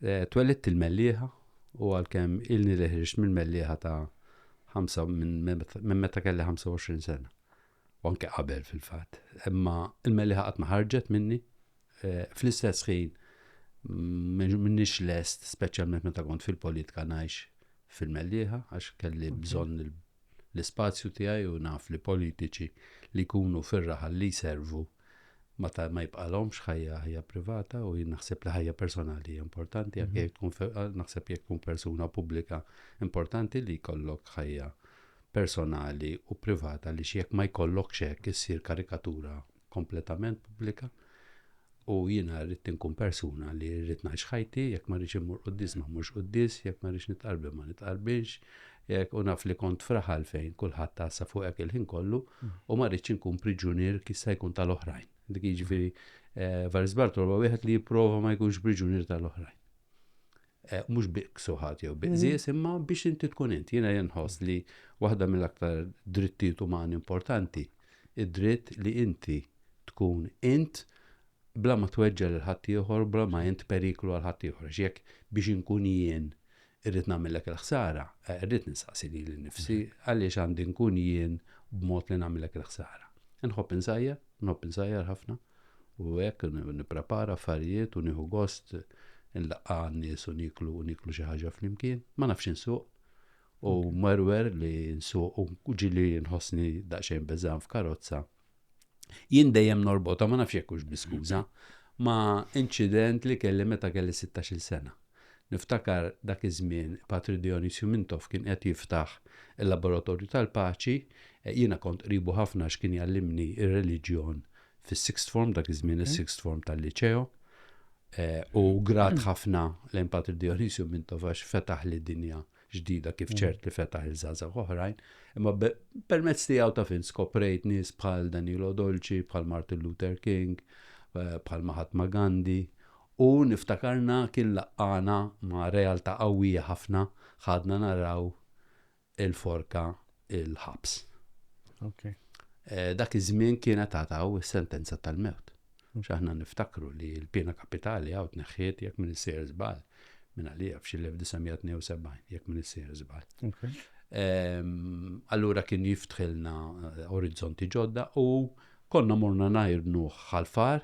Twellidt il-Mellieħa u għalkemm ilni li ħriġt mill-Mellieħa ta' ħamsa minn meta kelli 25 sena. U anke qabel fil-fatt. Imma il-Mellieħa qatt ma ħarġet minni. Fl-istess ħin minnix lest speċjalment meta kont fil-politika ngħix fil-Mellieħa għax kelli bżonn l-ispazju tiegħi u naf li politiċi li jkunu fir-raħal li jservu ma ta' ma jibqalhomx ħajja ħajja privata u jien naħseb li ħajja personali hija importanti anke jekk tkun fe- eh, naħseb jekk tkun persuna pubblika importanti li jkollok ħajja personali u privata li jekk ma jkollokx hekk issir karikatura kompletament pubblika u jiena rrid inkun persuna li rrid ngħix ħajti jekk ma rridx immur quddis ma mmurx quddis jekk ma rridx nitqarbi ma nitqarbinx Jekk, u naf li kont f'raħal fejn kulħadd għassa fuqek il-ħin kollu u ma rridx inkun priġunier kif se jkun tal-oħrajn. Dik jiġifieri Varis Bartolo huwa wieħed li jipprova ma jkunx priġunier tal-oħrajn. Eh, mhux biqk suħat jew biqżies mhm. imma biex inti tkun inti. Jiena jenħoss li waħda mill-aktar drittijiet umani importanti id-dritt li inti tkun int bla ma tweġġa lil ħaddieħor, bla ma int periklu għal ħaddieħor. Jekk biex inkun jien Irrid nagħmillek il-ħsara? Irrid nistaqsi lili nnifsi, għaliex għandi nkun jien b'mod li nagħmillek il-ħsara? Inħobb insajjar, inħobb insajjar ħafna, u hekk nipprepara affarijiet u nieħu gost inlaqqa' għan-nies u nieklu u nieklu xi ħaġa flimkien. Ma nafx insuq, u mwerwer li nsuq u ġieli nħossni daqsxejn beżgħan f'karozza. Jien dejjem norbota, ma nafx jekk hux bi skuża, ma' inċident li kelli meta kelli 16-il sena. Niftakar dak iż-żmien Patri Dionysju Mintoff kien qed jiftaħ il-Laboratorju tal-Paċi, jiena kont qribu ħafna għax kien jgħallimni r-reliġjon fis-Sixth Form, dak iż-żmien is-Sixth Form tal-Liċeo, u grat ħafna lejn Patri Dionysju Mintoff għax fetaħli dinja ġdida kif ċert li fetaħ il-żgħażagħ oħrajn, imma permezz tiegħu ta' fin skoprejt nies bħal Danilo Dolci, bħal Martin Luther King, eh, bħal Mahatma Gandhi, u niftakarna kien laqqana ma' realtà qawwija ħafna ħadna naraw il-forka il-ħabs. Okay. Eh, dak iż-żmien kienet għataw is-sentenza tal-mewt. X'aħna niftakru li l-pena kapitali għaw tneħħiet jekk minn isir żball minn għalija f'xil-1972 jekk minn isir żball. Ehm, allura kien jiftħilna eh, orizzonti ġodda u konna morna najrnu ħalfar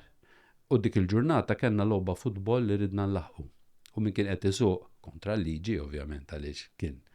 u dik il-ġurnata kellna logħba futbol li ridna nlaħqu. U min kien qed isuq kontra l-liġi ovvjament għaliex kien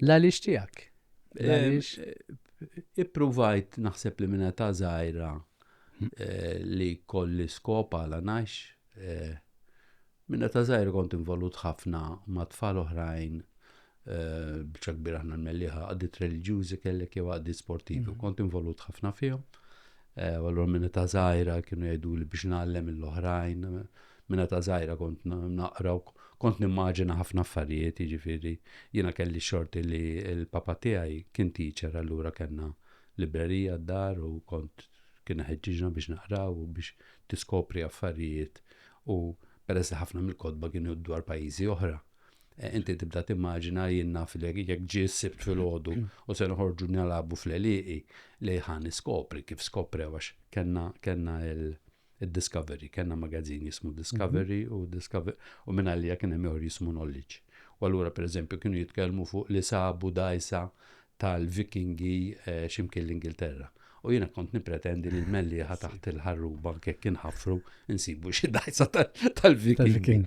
L-għaliex tiegħek? Ippruvajt naħseb li minna ta' żgħira hmm. eh, li kolli skop għala ngħix. Eh, minna ta' żgħira kont involut ħafna ma' tfal oħrajn eh, bċa kbir aħna l-melliħa għaddit religjużi kellek jew għaddit sportivi. Hmm. Kont involut ħafna fihom. Eh, u allura minna ta' zaħira kienu jgħidu li biex nallem l-oħrajn, minna ta' zaħira kont naqra u kont nimmaġina ħafna affarijiet, jiġifieri jiena kelli xorti li l-papa tiegħi kien teacher allura kellna librerija d-dar u kont kien ħeġġiġna biex naqraw u biex tiskopri affarijiet u peress li ħafna mill-kodba kienu dwar pajjiżi oħra, Eh, inti tibda timmaġina jien naf li jekk ġie sibt filgħodu mm. u se noħorġu nilagħbu fl-eliqi li ħan niskopri kif skopri għax kellna kellna il-Discovery, kellna magazzin jismu Discovery mhm. u Discovery u minn għalija kien hemm ieħor jismu Knowledge. U allura pereżempju kienu jitkellmu fuq li sabu dajsa tal-Vikingi eh, ximkien l-Ingilterra. U jiena kont nippretendi li l-mellieħa taħt il-ħarruba kekk inħaffru nsibu xi dajsa tal-Viking.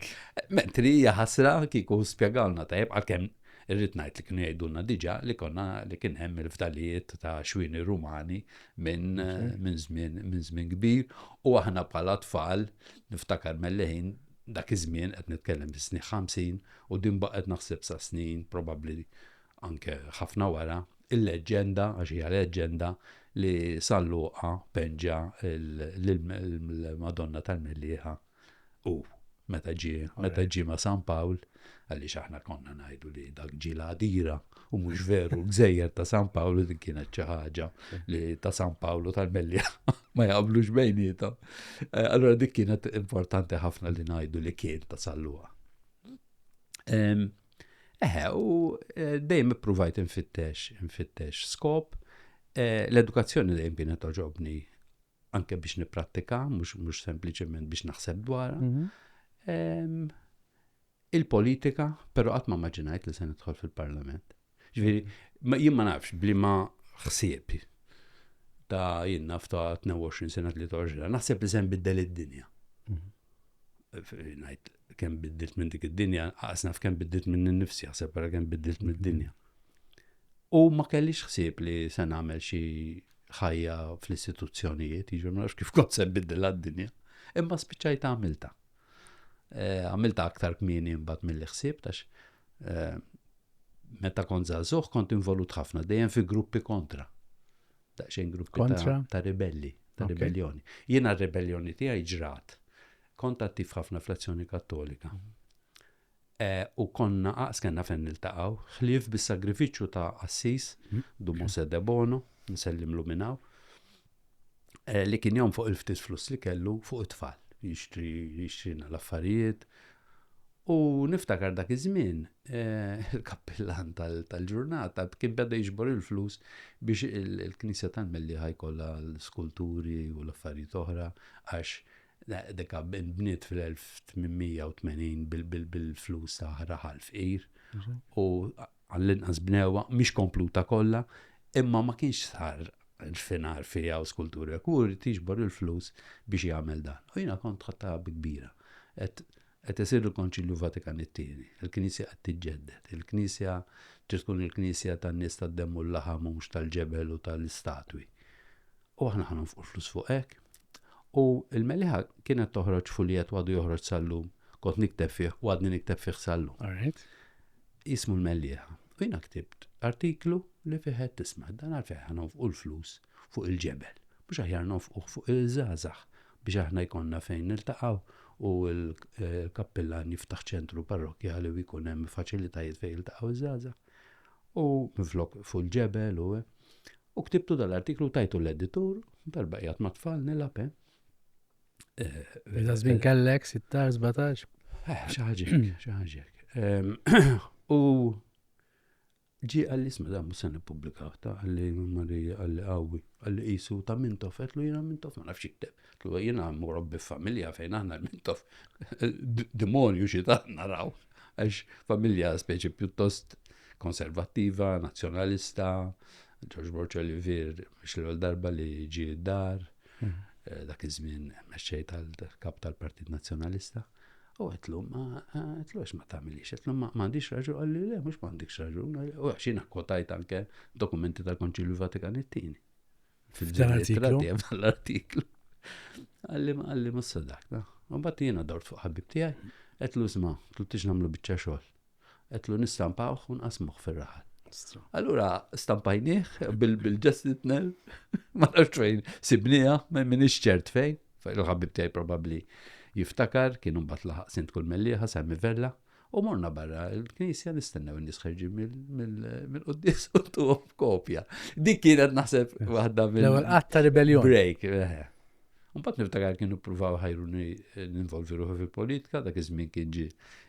Mentri hija ħasra kieku spjegalna tajjeb għalkemm irrid ngħid li kienu jgħidulna diġà li konna li kien hemm il-fdalijiet ta' xwini Rumani minn żmien kbir u aħna bħala tfal niftakar melleħin dak iż-żmien qed nitkellem fis-snin 50 u din baqgħet naħseb sa snin probabbli anke ħafna wara Il-leġġenda, għax hija leġġenda, li sal-luqa penġa l-Madonna tal-Mellieħa u meta ġi meta ġi ma' San Pawl, għaliex aħna konna ngħidu li dak ġi l-għadira u mhux veru l-gżejjer ta' San Pawl li kienet xi ħaġa li ta' San Pawl u tal-Mellieħa ma jaqblux bejnietom. Eh, allora dik kienet importanti ħafna li ngħidu li kien ta' sal-luqa. Eħe, u eh, dejjem ippruvajt infittex, infittex skop. Eh, l-edukazzjoni dejjem kienet toġobni anke biex nipprattika, mhux mhux sempliċement biex naħseb dwar. Mhm. Il-politika, però qatt ma maġinajt li se nidħol fil-Parlament. Ġifieri, jien ma nafx bli ma ħsieb ta' jien naf ta' 22 sena 23, naħseb li se nbiddel id-dinja. Mhm. Ngħid kemm biddilt minn dik id-dinja, qas naf kemm biddilt minn innifsi, ħseb ara kemm biddilt mid-dinja. U ma kellix ħsieb li se nagħmel xi ħajja fl-istituzzjonijiet, jiġu ma nafx kif kont se biddilha d-dinja, imma spiċċajt għamilta. Eh, għamilta aktar kmieni mbagħad mill ħsieb tax eh, meta kont żagħżugħ kont involut ħafna dejjem fi gruppi kontra. daqsxejn gruppi kontra ta' ribelli, ta' okay. ribellioni. Jiena r-ribellioni tiegħi ġrat. Kont attiv ħafna fl-azzjoni kattolika. Mhm. Eh, u konna aqs kena fejn niltaqgħu, ħlief bis-sagrifiċċju ta' Assis, mhm. Dumose de Bono, nsellimlu minnaw, eh, li kien jom fuq il-ftit flus li kellu fuq it-tfal, jixtri jixtrina l-affarijiet, U niftakar dak iż-żmien, eh, il-kappillan tal-ġurnata kien beda jiġbor il-flus biex il-Knisja tal-Mellieħa jkollha l-skulturi u l-affarijiet oħra għax deka bniet fil-1880 bil-flus ta' raħal fqir mhm. u għall-inqas bnewa mhix kompluta kollha imma ma kienx sar finar fija u skulturi kur tiġbor il-flus biex jagħmel dan. U jiena kont ħatta kbira. Et Qed isir il-Konċilju Vatikan it-Tieni. Il-Knisja qed tiġġedded. Il-Knisja trid tkun il-Knisja tan-nies tad-demm u l-laħam u mhux tal-ġebel u tal-istatwi. U aħna ħa nonfqu l-flus fuq hekk. U l-Meliħa kienet toħroġ fuljett u għadu joħroġ sal-lum. Kont nikteb fih u għadni nikteb fih sal-lum. Jismu l-Meliħa. U jiena ktibt artiklu li fih qed tisma' dan għalfejn ħa nonfqu l-flus fuq il-ġebel. Mhux aħjar nonfquh fuq il-żgħażagħ biex aħna jkollna fejn niltaqgħu u l-kappillan jiftaħ ċentru parrokkjali u jkun hemm faċilitajiet fejn jiltaqgħu iż-żgħażagħ. U minflok fuq il-ġebel u eh. u ktibtu dal-artiklu tajtu l-editur darba qiegħed ma' tfal nilgħab eh. Żmien eh, eh, kellek 16 17. Xi ħaġek, xi ħaġek. U Ġie qalli, 'Isma' dan mhux se nippubblikah, ta, qalli Maria, qalli qawwi, qalli qisu ta' Mintoff, għedtlu jiena Mintoff ma nafx jikteb, għedtlu jiena murobbi f'familja fejn aħna l-Mintoff demonju xi ta' naraw għax familja speċi pjuttost konservattiva, nazzjonalista, Ġorġ Borċa li vir mhux l-ewwel darba li ġie d-dar, mm. eh, dak iż-żmien mexxej tal-kap tal-Partit Nazzjonalista. U għetlu, ma għetlu għax ma tamilix, għetlu ma għandix raġun, għalli le, mux ma għandix raġun, u għax jina kwotajt anke dokumenti tal-Konċilju Vatikan it-tini. Fil-artiklu. Fil-artiklu. Għalli ma għalli ma s-sadak, no? U bat jina dort fuq ħabib tijaj, għetlu zma, tlu tiġ namlu bieċa xol. Għetlu nistampawh u nqasmuh fir-raħal. Allura stampajnieh bil-ġestitnel, ma nafx fejn sibnija, ma minix ċert fejn, fejn l-ħabib tiegħi probabbli jiftakar, kienu mbagħad laħaq sint kull melliħa, Sammy Vella, u morna barra l-knisja nistennew n-nies ħerġin mill-qoddis u tuħom kopja. Dik kienet naħseb waħda mill-ewwel qatta ribeljon. Break, eh, eh. Mbagħad niftakar kienu ppruvaw ħajruni eh, ninvolvi ruħi fil-politika, dak iż-żmien kien ġi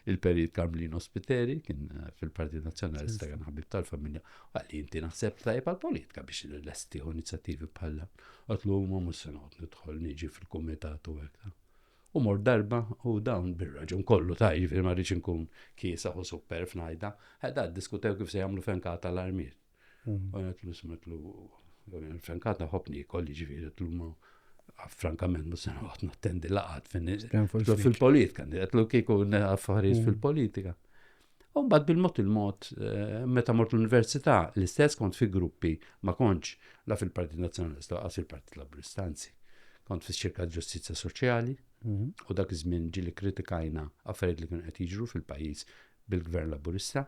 il-perit Karmlino Spiteri, kien eh, fil-Partit Nazzjonalista kien ħabib tal-familja, għalli inti naħseb tajjeb għal-politika biex l-lesti u inizjattivi bħalla. Għatlu huma mhux se noqgħod nidħol niġi fil-kumitat u hekk. U mor darba u dawn bir-raġun kollu ta' jiġifieri ma rridx inkun kiesa u super f'najda, ħedha diskutew kif se jagħmlu fenkata l-armiet. U għetlu smetlu, frankat naħob nikol, ġifiri għetlu ma frankament ma sena għot nattendi laqat fil-politika, għetlu kiku affarijiet mm. fil-politika. U mbagħad bil-mod il-mod, eh, meta mort l-università, l-istess kont fi gruppi ma kontx la fil-Partit Nazzjonalista għas il-Partit Laburista, anzi, kont fi ċirka ġustizja soċjali, mm-hmm. u dak iż-żmien ġili kritikajna affarijiet li kienu qed jiġru fil-pajjiż bil-Gvern Laburista,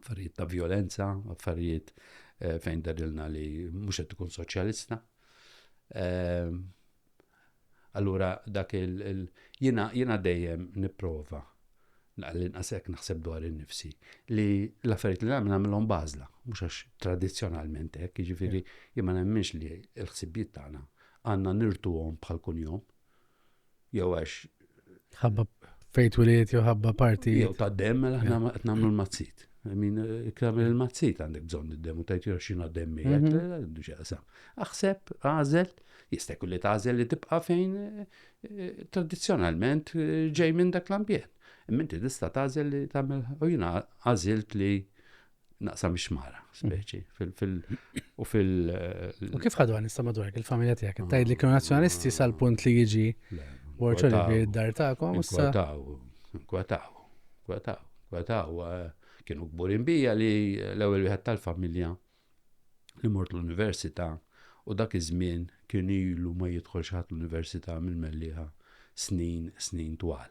affarijiet ta' violenza, affarijiet eh, fejn darilna li mhux qed ikun soċjalista. Eh, allura dak il jiena dejjem nipprova l-inqas hekk naħseb dwar in-nifsi li l-affarijiet li nagħmel nagħmilhom bażla, mhux għax tradizzjonalment hekk, jiġifieri jien ma nemminx li l-ħsibijiet tagħna għandna nirtuhom bħal kunjom. jew għax. Ħabba fejt wiliet jew ħabba parti. Jew ta' dem, mela ħna qed nagħmlu l-mazzit. Min ikram il-mazzit għandek bżonn id-dem u tajt xina dem miegħek, mhm. xaqsam. Aħseb, għażel, jista' jkun li tagħżel li tibqa' fejn eh, eh, tradizzjonalment eh, ġej minn dak l-ambjent. Minti tista' tagħżel li tagħmel u jiena għażilt li naqsam ix-xmara, speċi. U fil. U kif ħadu għan madwar il-familja tijak? Tajd li kienu nazjonalisti sal-punt li jiġi borċa li id-dar ta'kom. Kwataw, kwataw, kwataw, kwataw. Eh, kienu gburin bija li l-ewel wieħed tal-familja li mort l-università u dak iż-żmien kien ilu ma jidħolx ħadd l-università mill-melliħa snin, snin twal.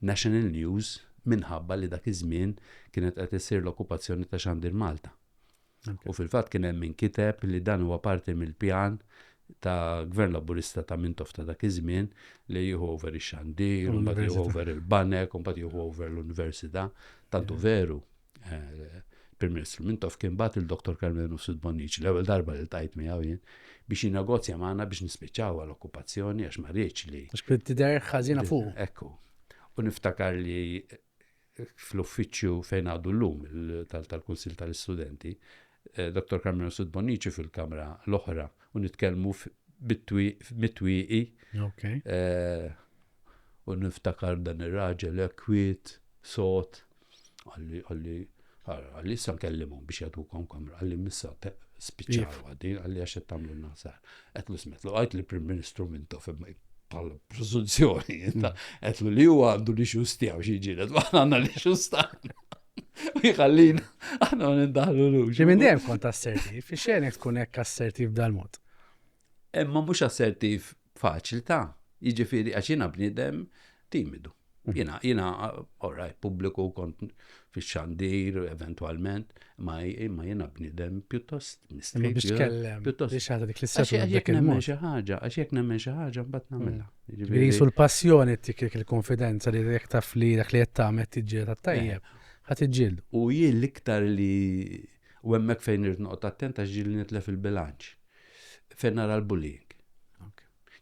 National News minħabba li dak iż-żmien kienet qed issir l-okkupazzjoni ta' Xandir Malta. U fil-fatt kien hemm min kiteb li dan huwa parti mill-pjan ta' Gvern Laburista ta' Mintoff ta' dak iż-żmien li jieħu over ix-Xandir, u mbagħad jieħu over il-banek, u mbagħad jieħu over l-Università. Tant hu veru. il-Prim Ministru Mintoff kien bat il-Dr. Carmel Mifsud Bonnici l-ewwel darba li tajt miegħu jien biex jinnegozja magħna biex nispiċċaw għal okkupazzjoni għax ma rridx li. Għax kien tidher ħażina fuq. Ekku. U niftakar li fl-uffiċċju fejn għadu llum tal-Kunsill tal-Istudenti Dottor Carmelo Sud Bonnici fil-kamra l-oħra u nitkellmu mit-twieqi. U niftakar dan ir-raġel kwiet, sot, għalli għalli għalli issa nkellimhom biex jagħtukom kamra għalli missa spiċċaw għaddi għalli għax qed tagħmlu nasar. Qed lu smetlu għajt li Prim Ministru mintu bħal preżunzjoni qed li huwa għandu li xus tiegħu xi ġiret ma għandna li xus tagħna. U jħallin, aħna nindaħlu l-uġu. Ġi minn dejjem kont assertiv, fi xenek tkun hekk assertiv dal-mod. Imma mhux assertiv faċilità, jiġifieri għax jiena bniedem timidu. Mhm. Jiena jiena oraj pubbliku kont fix-xandir eventwalment, ma imma jiena bniedem pjuttost mistrieħ. Biex tkellem, biex ħadd dik l-istazzjoni. Għax jekk nemmen xi ħaġa, għax jekk nemmen xi ħaġa mbagħad nagħmilha. Ġifieri jisu l-passjoni tik il-konfidenza li jekk taf li dak li qed tagħmel tiġġieled għat-tajjeb, ħadd iġġieldu. U hi l-iktar li u hemmhekk fejn irid noqgħod attent għax ġieli nitlef il-bilanċ. Fejn nara l-bullying.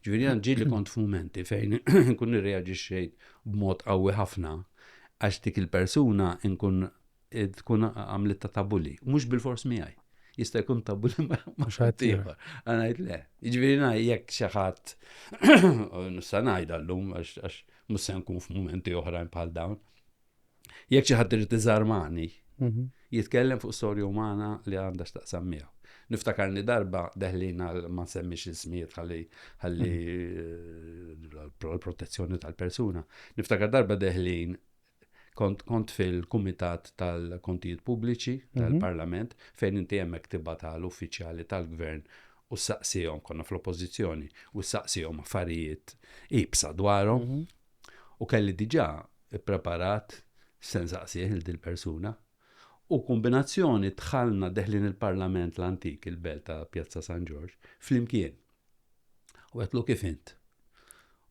Ġifieri għand ġieli kont f'mumenti fejn nkun irreaġixxejt b'mod qawwi ħafna għax dik il-persuna nkun tkun għamlitta ta' bulli, mhux bil-fors miegħi. Jista' jkun ta' bulli ma' xatt ieħor. Għanajt le. Jiġifieri jekk xi ħadd nista' ngħid llum għax mhux se nkun f'mumenti oħrajn bħal dawn. Jekk xi ħadd irid iżarmani, mhm. jitkellem fuq storja umana li għandha x'taqsam miegħu. Niftakarni darba deħlina ma semmix il-smiet ħalli ħalli mhm. eh, l-protezzjoni tal-persuna. Niftakar darba deħlin kont kont fil-Kumitat tal-Kontijiet Pubbliċi mhm. tal-Parlament fejn inti hemmhekk tibgħat għal uffiċjali tal-Gvern u saqsihom konna fl-oppożizzjoni u saqsihom affarijiet ibsa dwarhom mhm. u kelli diġà ippreparat se nsaqsih il dil persuna U kombinazzjoni dħalna deħlin il-Parlament l-antik, il-belt ta' Pjazza San Ġorġ, flimkien. U għetlu kif int?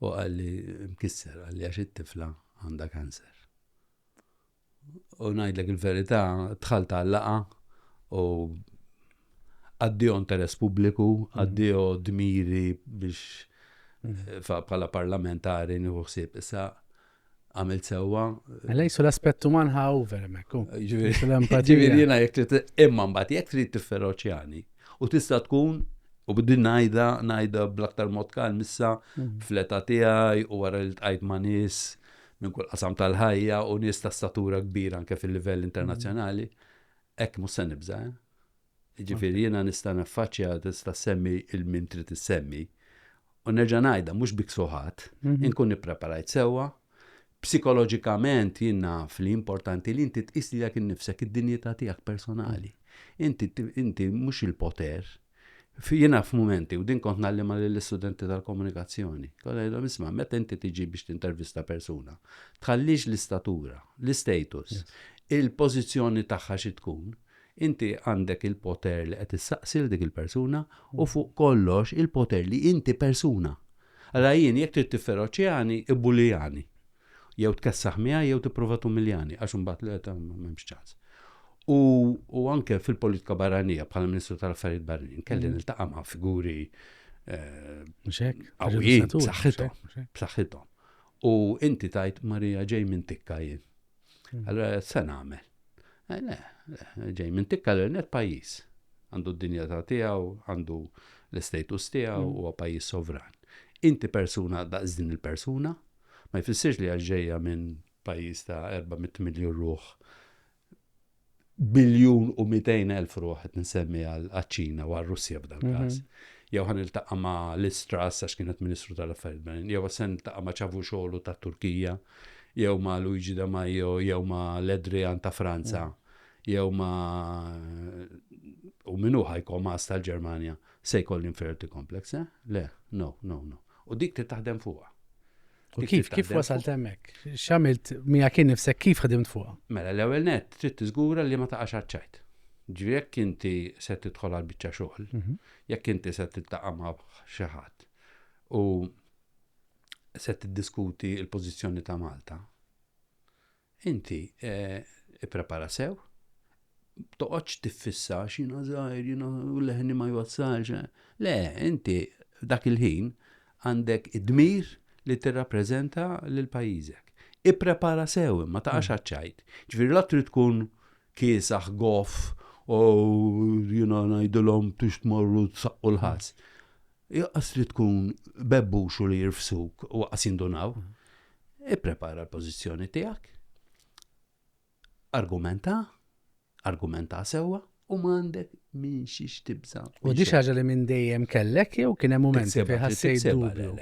U għalli mkisser, għalli għax it-tifla għanda kanser. U najdlek il-verità, tħalt għallaqa u għaddijo interess pubbliku, mhm. għaddijo dmiri biex mhm. eh, pala parlamentari nħuħsib. Issa, għamilt sewwa. Mela jisu l-aspett uman ħa over hemmhekk. Ġifieri jiena jekk trid imma mbagħad jekk trid tifferoċjani u tista' tkun u bdin ngħidha ngħidha bl-aktar mod kalm issa mm. fl-età tiegħi u wara li tqajt ma' nies minn kull qasam tal-ħajja u nies ta' statura kbira anke fil-livell internazzjonali. Hekk mhux se nibża'. Eh? Jiġifieri jiena nista' naffaċċja, tista' ssemmi 'il min trid issemmi, u nerġa' ngħidha mhux bi ksuħat, inkun ippreparajt sewwa, psikoloġikament jien naf li importanti li inti tqis lilek innifsek, id-dinjità tiegħek personali. Inti, inti mhux il-poter. Jiena f'mumenti, u din kont ngħallimha lill-istudenti tal-komunikazzjoni, kont ngħidhom isma' meta inti tiġi biex tintervista persuna, tħallix l-istatura, l-istatus, il-pożizzjoni tagħha xi tkun, Inti għandek il-poter li qed issaqsi lil dik il-persuna u fuq kollox il-poter li inti persuna. Allura jien jekk trid tifferoċjani, ibbulijani. Jew tkessaħ miegħi jew tipprova tumiljani għax imbagħad le ta' m'hemmx ċans. U, u anke fil-politika barranija bħala Ministru tal-Affarijiet Barranin kelli niltaqa' ma' figuri Mhux hekk? qawwijin, Irridu satur, mhux b'saħħithom, hekk? b'saħħithom. U inti tgħid Marija ġej minn tikka jien. Hmm. Allora se nagħmel. Eh, le, ġej minn tikka l-net pajjiż. Għandu d-dinja ta' tiegħu, għandu l-istatus tiegħu hmm. huwa pajjiż sovran. Inti persuna daqs din il-persuna, ma jfissirx li għax ġejja minn pajjiż ta' 400 miljun ruħ biljun u 200 elf ruħ qed nsemmi għaċ-Ċina u għar-Russja f'dan mhm. każ. Jew ħan iltaqa' ma' l-Istras għax kienet Ministru tal-Affarijiet Barranin, jew se niltaqa' ma' ċavu xogħlu ta' Turkija, jew ma' Luigi da Maio, jew ma' l-Edrian ta' Franza, mhm. jew ma' u minnu ħajkom għas tal-Ġermanja se jkoll l-inferiority complex, eh? Le, no, no, no. U dik li taħdem fuqha. U kif, kif wasalt hemmhekk? X'għamilt mija kien nifsek kif ħdimt fuqha? Mela l-ewwel net trid tiżgura li ma taqax għaċ-ċajt. Ġifieri jekk inti se tidħol għal biċċa xogħol, mhm. jekk inti se tiltaqa' ma' xi ħadd u se tiddiskuti l-pożizzjoni ta' Malta, Inti ipprepara sew, toqgħodx tiffissa x'jiena żgħir, jiena leħni ma jwassalx. Eh. Le, inti dak il-ħin għandek id-dmir li tirrappreżenta lil pajjiżek. Ipprepara sew imma taqax mm. ċajt. Ġifieri la trid tkun kiesaħ goff u jiena ngħidilhom tux tmorru tsaqqu l-ħass. Joqqas li tkun bebbux u li jirfsuk u waqqas jindunaw. Ipprepara l-pożizzjoni tiegħek. Argumenta, argumenta sewwa u m'għandek minn xiex tibża. U di ħaġa li minn dejjem kellek jew kien hemm mument li ħassejt dubju.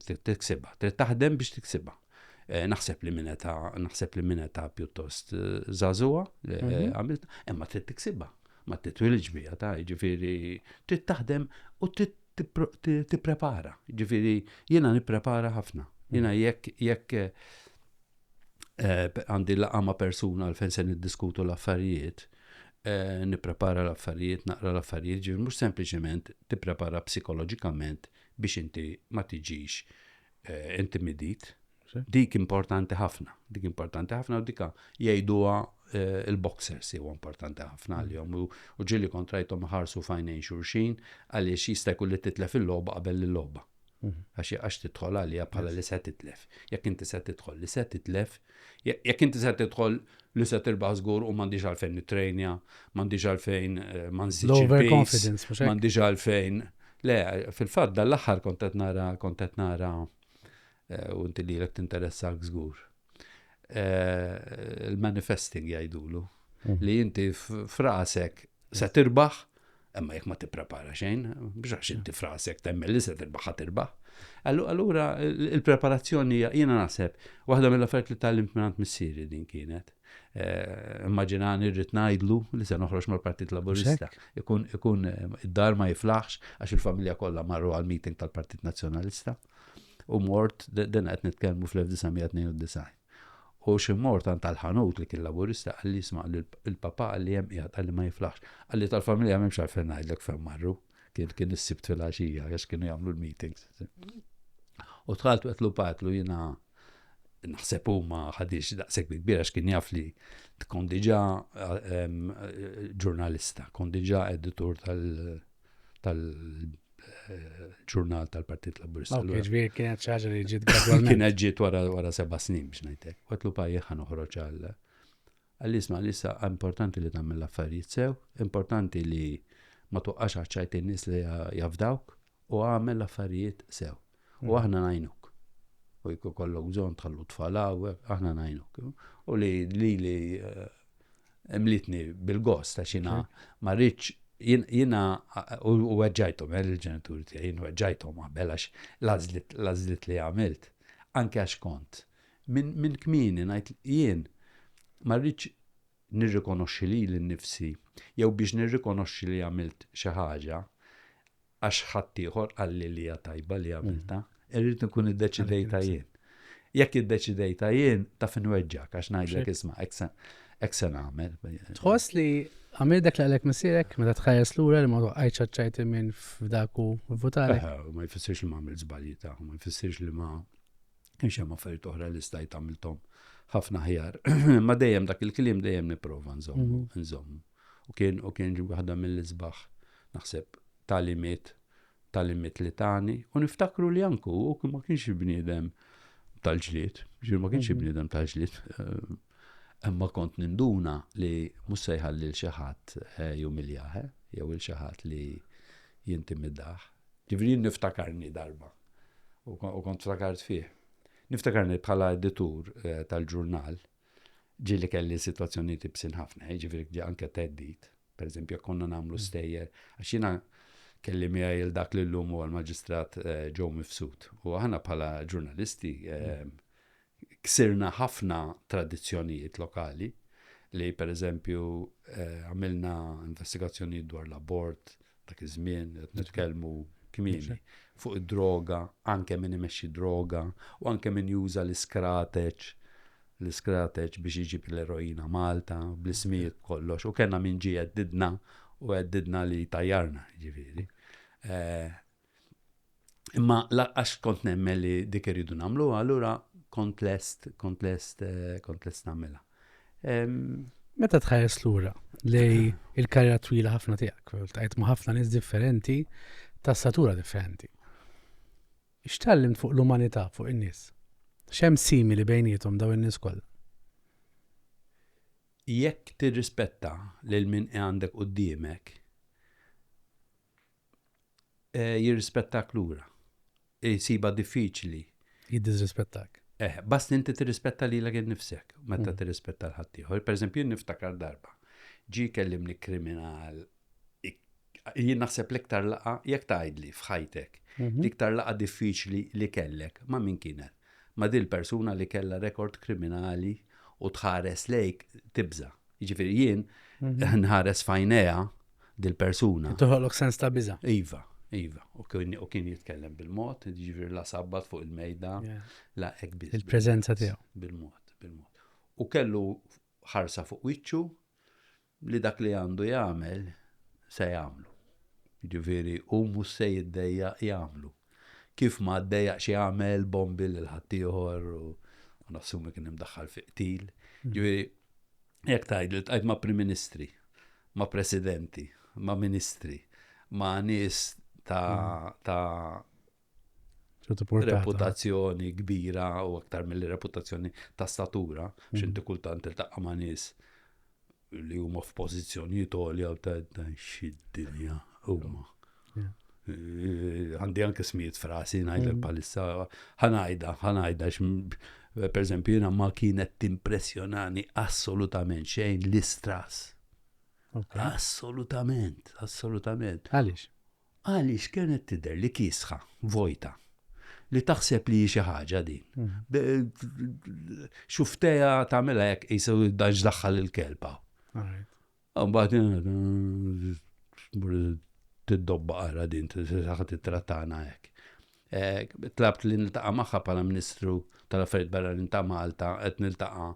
Trid tiksibha, trid taħdem biex tiksibha. Eh, naħseb li mineta, naħseb li mineta pjuttost eh, zazua, eh, mhm. għamilt, imma trid tiksibha. Ma titwilidx biha ta, jiġifieri trid taħdem u trid tipprepara. Jiġifieri jiena nipprepara ħafna. Jiena mm. jekk jekk eh, għandi laqa ma' persuna għal fejn se niddiskutu l-affarijiet, eh, nipprepara l-affarijiet, naqra l-affarijiet, ġifieri mhux sempliċement tipprepara psikoloġikament biex inti ma tiġix eh, intimidit Dik importanti ħafna, dik importanti ħafna u dika jgħiduha eh, il-boxers jew importanti ħafna mm. għalihom u ġili kontrajtom ħarsu fajnejn xurxin għaliex jista' jkun li titlef il-logħba qabel il-logħba. Mm. Għax għax tidħol għalija bħala li se titlef. Jekk inti se tidħol li se titlef, jekk inti se tidħol li se tirbaħ żgur u m'għandix għalfejn nitrejnja, m'għandix għalfejn eh, ma nżidx il-confidence, m'għandix għalfejn. Le, fil-fatt dal-aħħar kontet nara kontet nara Eh, u inti lilek tinteressak żgur. Eh, il-manifesting jgħidulu mhm. li inti frasek se tirbaħ, imma jekk ma tipprepara xejn, biex għax inti frasek temmel li se tirbaħ ħa tirbaħ. Allura il-preparazzjoni jiena naħseb waħda mill-affarijiet li tal-limt minn missieri din kienet. Eh, immaġinani rrid ngħidlu li se noħroġ mal-Partit Laburista. Ikun id-dar ma jiflaħx għax il-familja kollha marru għal meeting tal-Partit Nazzjonalista. U mort, din qed nitkellmu fl-1992. U xi mort għand tal-ħanut li kien laburista qal li jisma' li l-papa qal li hemm qiegħed qal li ma jiflaħx. Qal li tal-familja m'hemmx għalfejn ngħidlek fejn marru. Kien kien is-sibt fil-għaxija għax kienu jagħmlu l-meetings. U tħalt qed lu patlu jiena naħseb huma ħadix daqshekk kbira x'kien jaf li tkun diġà ġurnalista, kon diġà editur tal- tal-ġurnal tal-Partit Laburista. Ok, ġviri kienet ċaġa li ġiet gradualment. Kienet ġiet wara seba snin biex najtek. Għatlu pajja ħan uħroċ għalla. Għalli isma li sa importanti li tammel l-affarijiet sew, importanti li ma tuqqax għacċajt nis li jafdawk u għamel l-affarijiet sew. U aħna ngħinuk. U jekk ikollok bżonn tħallu tfal hawnhekk, aħna ngħinuk. U li li li eh, mlitni bil-gost għax jiena ma rridx jiena u weġġajthom eh, il-ġenituri tiegħi jien weġġajthom qabel għax l-għażlit li għamilt anke għax kont. Minn kmini ngħid jien ma rridx nirrikonoxxi li l-nifsi jew biex nirrikonoxxi li għamilt xi ħaġa għax ħaddieħor qalli li hija tajba li għamiltha, irrid inkun iddeċidejtha jien. Jekk iddeċidejtha jien, taf inweġġgħek għax ngħidlek isma' hekk se nagħmel. Tħoss li għamil dak li għalek missirek, meta tħares lura li ma toqqajċ ċajt minn f'dak u votari. Ma jfissirx li ma għamil żbalji ta' ma jfissirx li ma kienx hemm affarijiet oħra li stajt għamilthom ħafna ħjar. Ma dejjem dak il-kliem dejjem nipprova nżomm, mhm. nżomm. U kien u kien ġie waħda mill-isbaħ, naħseb, tagħlimiet tagħlimiet li tani u niftakru li anke hu ma kienx bniedem tal-ġlied, ġifieri ma kienx mhm. bniedem tal-ġlied. Eh, imma kont ninduna li mhux se jħalli l xi ħadd eh, jumiljaħ eh, jew il xi ħadd li jintimidah. Ġifieri niftakarni darba u kont ftakart fih. Niftakarni bħala editur tal-ġurnal Ġieli kelli sitwazzjonijiet ibsin ħafna, jiġifieri ġie anke theddid, pereżempju jekk konna nagħmlu mm. stejjer, għax jiena kelli miegħi il dak li llum huwa l-Maġistrat eh, Joe Mifsud. U aħna bħala ġurnalisti eh, ksirna ħafna tradizzjonijiet lokali li pereżempju eh, għamilna investigazzjonijiet dwar l-abort, Dak iż-żmien qed nitkellmu kmieni fuq id-droga, anke min imexxi droga u anke min juża l-iskrateċ l-iskrateċ biex iġib l-eroina Malta bl-ismijiet kollox u kellna min ġie jeddidna u jeddidna li tajjarna ġifieri. Eh, Imma għax kont nemmen li dik irridu nagħmluha, allura kont lest, kont lest, eh, kont lest nagħmilha. Meta tħares lura li il-karriera twila ħafna tiegħek, tqajt ma' ħafna nies differenti ta' satura differenti. X'tallim fuq l-umanità fuq in-nies? X'hemm simili bejnietom daw in-nies kollha? Jekk tirrispetta lil min għandek qudiemek, jirrispettak lura. Jsibha diffiċli. Jiddiżrispettak. Eh, bast inti tirrispetta lilek innifsek meta mm. tirrispetta l-ħaddieħor. Pereżempju, jien niftakar darba. Ġi kellimni kriminal jien naħseb l-iktar laqa jekk tgħidli f'ħajtek mhm. l-iktar laqa diffiċli li kellek ma' min kienet. Ma' dil persuna li kellha rekord kriminali u tħares lejk tibża. Jiġifieri jien nħares fajnejha dil-persuna. Toħolok sens ta' biża. Iva, iva. U kien jitkellem bil-mod, jiġifieri la sabbat fuq il-mejda, la hekk biża. Il-preżenza tiegħu. Bil-mod, bil-mod. U kellu ħarsa fuq wiċċu li dak li għandu jagħmel se jagħmlu. Ġifieri u mhux se jiddejja jagħmlu. Kif ma ddejjaq xi għamel bombi lil ħaddieħor u nassumi kien imdaħħal fi qtil. Hmm. Ġifieri jekk tgħid li tqajt ma' Prim Ministri, ma' Presidenti, ma' Ministri, ma' nies ta' hmm. reputazzjoni kbira u aktar mill-reputazzjoni ta' statura, hmm. xinti kultant il-taqqa ma' nies li huma f'pożizzjonijiet għolja ta' xi dinja huma. Eh, għandi anke smijiet frasi ngħidlek mm. bħalissa ħanajda, ħanajda per eżempju jiena ma kienet timpressjonani assolutament xejn l-istras. Assolutament, assolutament. Għaliex? Għaliex kienet tidher li kiesħa, vojta. Li taħseb li hi xi ħaġa din. Xufftejha tagħmilha hekk qisu dan x'daħħal il-kelb hawn. Mbagħad tiddobba ara din, se tittrattana hekk. Tlabt li niltaqa' magħha bħala Ministru tal-Affarijiet Barranin ta' Malta qed niltaqa'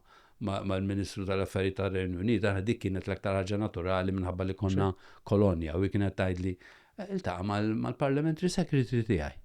mal-Ministru tal-Affarijiet tar-Renju Unit, aħna dik kienet l-aktar ħaġa naturali minħabba li konna kolonja u hi kienet tgħidli, Iltaqa' mal-Parliamentary Secretary tiegħi.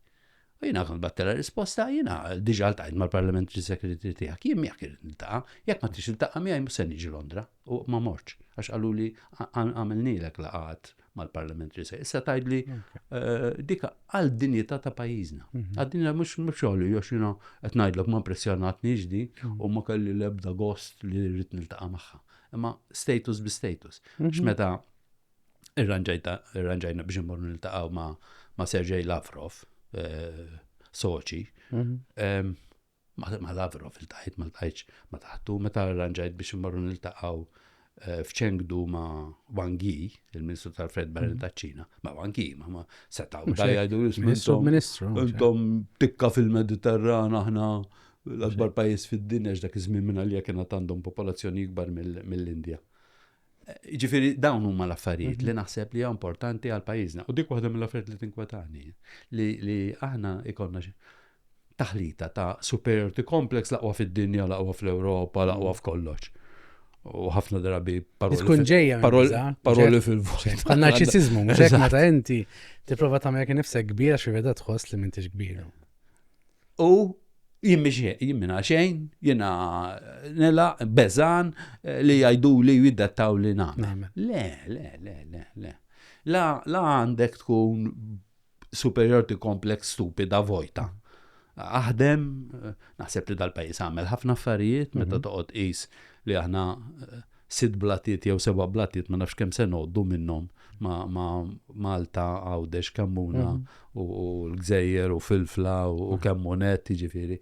U jiena kont battilha risposta, jiena diġà ltqajt mal-Parliamentary Secretary tiegħek, jien miegħek irrid niltaqa', jekk ma tridx tiltaqa' miegħi mhux se niġi Londra. u ma morċ, għax għaluli għamilnilek laqat mal-parlamentri se. Issa tajdli eh, dika għal dinjità ta' pajjiżna. Mhm. Għal dinjità mhux mhux xogħli għax jiena qed ngħidlek ma impressjonatni ġdi mhm. u ma kelli l-ebda gost li rrid niltaqa' magħha. Imma status bi status. Mhm. X'meta irranġajna biex immorru niltaqgħu ma' Sergej Lavrov, eh, soċi, Ma' Lavrov iltqajt, ma ltqajtx ma' taħtu, meta arranġajt biex immorru niltaqgħu eh, f'Chengdu ma' Wang Yi, il-Ministru tal-Fred Barren mhm. taċ-Ċina, ma' Wang Yi, ma' ma' setaw jgħidu l-Ministru. Ministru. Intom tikka fil-Mediterran aħna l-akbar pajjiż fid-dinja x'dak iż-żmien minn għalija kien għandhom popolazzjoni ikbar mill-Indja. Ġifiri, dawn huma l-affarijiet mhm. li naħseb li importanti għal pajjiżna. U dik waħda mill-affarijiet li tinkwetani li aħna ikonna taħlita ta' superiority complex laqwa fid-dinja, laqwa fl-Ewropa, laqwa mhm. f'kollox. U ħafna drabi paroli. Tkun ġejja paroli fil-vojt. Għan narċisizmu, mhux hekk meta inti tipprova tagħmel kien nifsek kbira xi veda tħoss li m'intix kbira. U jien biex jien minna xejn, jiena nela, bezan eh, li jajdu li jiddattaw li nagħmel. Le, le, le, le, le. La, la għandek tkun superiority complex stupida vojta. Aħdem, eh, naħseb li dal-pajis għamel ħafna affarijiet, meta mhm. toqgħod is li aħna eh, sitt blatiet jew seba' blatiet ma nafx kemm se ngħoddu minnhom ma' Malta, Għawdex, Kammuna u l-Gżejjer u Filfla u kemm hu nett jiġifieri.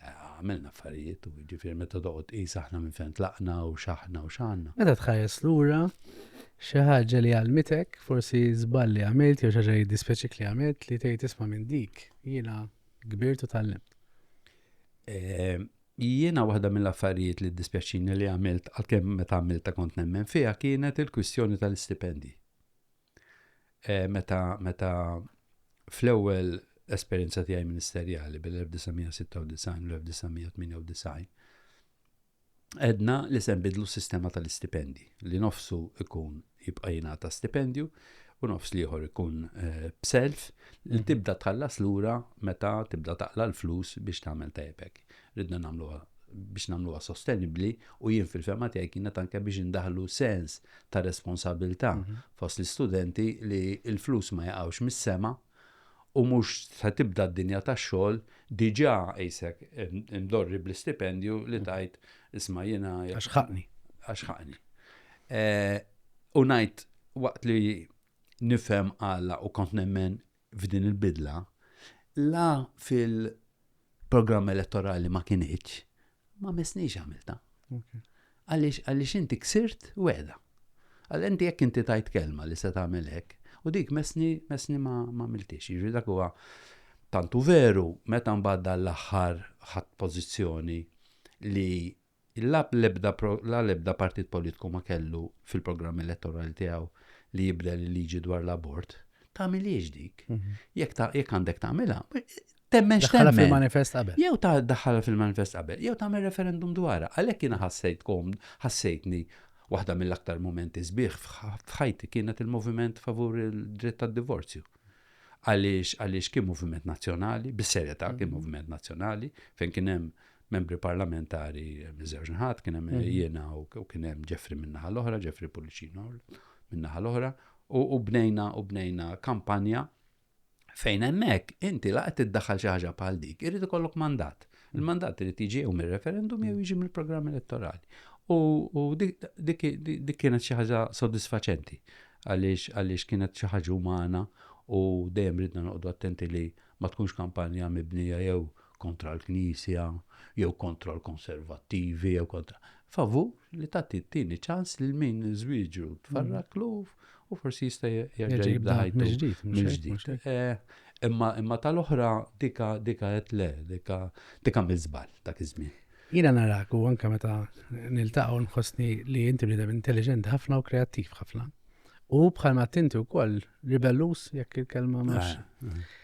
Għamilna affarijiet u jiġifieri meta toqgħod tqis aħna minn fejn tlaqna u x'aħna u x'għandna. Meta tħares lura, xi ħaġa li għallmitek, forsi żball li għamilt jew xi ħaġa li jiddispjaċik li għamilt li tgħid isma' minn dik jiena kbirt u tgħallimt? Jiena waħda mill-affarijiet li ddispjaċini li għamilt, għalkemm meta għamiltha kont nemmen fiha, kienet il-kwistjoni tal-istipendji. E, meta meta fl-ewwel esperjenza tiegħi ministerjali bil-1996 u l-1998 edna li se nbidlu s-sistema tal-istipendi li nofsu ikun jibqa' jingħata stipendju u nofs l-ieħor ikun eh, b'self li mhm. tibda tħallas lura meta tibda taqla l-flus biex tagħmel tajbek. Ridna nagħmluha biex nagħmluha sostenibbli u jien fil-fema tiegħi kienet anke biex indaħlu sens ta' responsabilità mhm. fost l-istudenti li l-flus ma jaqgħux mis-sema u mhux se tibda d-dinja tax-xogħol diġà qisek imdorri bl-istipendju li tgħid isma' jiena Għax ħaqqni. Għax ħaqqni. U ngħid waqt li nifhem għala u kont nemmen f'din il-bidla, la fil- programm elettorali ma kienieċ, ma mesniex għamilta. Għalix, għalix inti ksirt weda. Għal inti jekk inti tajt kelma li se tagħmel hekk, u dik mesni mesni ma ma miltix. Jiġri dak huwa tantu veru meta mbagħad l-aħħar ħadd pożizzjoni li Il-lap l-ebda pro, la l-ebda partit politiku ma kellu fil-programm elettorali tiegħu li jibdel il-liġi dwar l-abort. Tagħmilhiex dik. Mhm. Jekk ta, jekk għandek tagħmilha, temmen Daħħalha x'temmen. fil-manifest qabel. Jew ta' daħħalha fil-manifest qabel, jew tagħmel referendum dwarha. Għalhekk jiena ħassejt kom, ħassejtni waħda mill-aktar momenti sbieħ f'ħ- f'ħajti kienet il-moviment favur il-dritt tad-divorzju. Għaliex għaliex kien moviment nazzjonali, bis-serjetà kien moviment nazzjonali, fejn kien hemm membri parlamentari miż-żewġ naħat, kien hemm mhm. jiena u kien hemm Ġefri min-naħa l-oħra, Ġefri Pullicino min-naħa l-oħra, u bnejna u bnejna kampanja fejn hemmhekk inti laqgħet iddaħħal xi ħaġa bħal dik, irid ikollok mandat. Mhm. Il-mandat irid jiġi jew mir-referendum jew mhm. jiġi mill-programm elettorali. U dik kienet xi ħaġa sodisfaċenti għaliex kienet xi ħaġa umana u dejjem ridna noqogħdu attenti li ma tkunx kampanja mibnija jew kontra l-Knisja jew kontra l-konservattivi jew kontra favur li tagħti t-tieni ċans lil min żwieġu tfarraklu u forsi jista' jerġa' jibda ħajtu mill-ġdid. Eh, imma imma tal-oħra dika dika qed le, dika dika miżbal dak iż-żmien. Jiena narak u anke meta niltaqgħu nħossni li inti bniedem intelligent ħafna u kreattiv ħafna. U bħalma tinti wkoll ribellus jekk il-kelma mhux. Eh, eh.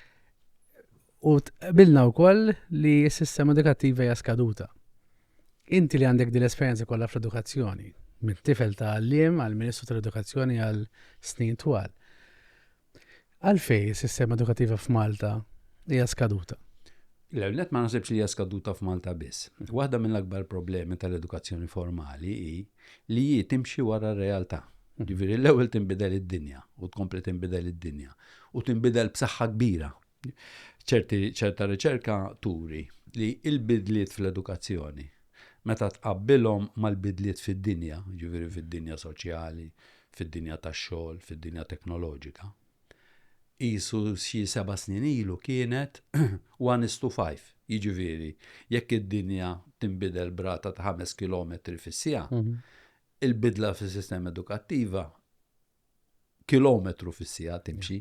U tqabilna wkoll li s-sistema edukattiva hija skaduta. Inti li għandek din l-esperjenza kollha fl-edukazzjoni, minn tifel ta' għalliem għal Ministru tal-Edukazzjoni għal snin twal. Għalfej is-sistema edukattiva f'Malta hija skaduta? L-għamlet ma nasibx li hija skaduta f'Malta biss. Waħda mill-akbar problemi tal-edukazzjoni formali hi li hi timxi wara r-realtà. Ġifieri l-ewwel tinbidel id-dinja u tkompli tinbidel id-dinja u tinbidel b'saħħa kbira Ċerti ċerta riċerka turi li l-bidliet fl-edukazzjoni meta tqabbilhom mal-bidliet fid-dinja, jiġifieri fid-dinja soċjali, fid-dinja tax-xogħol, fid-dinja teknoloġika, qisu xi seba' snin ilu kienet one is to five, jiġifieri jekk id-dinja tinbidel brata ta' ħames kilometri fis-siegħa, il-bidla fis-sistema edukattiva kilometru fis-siegħa timxi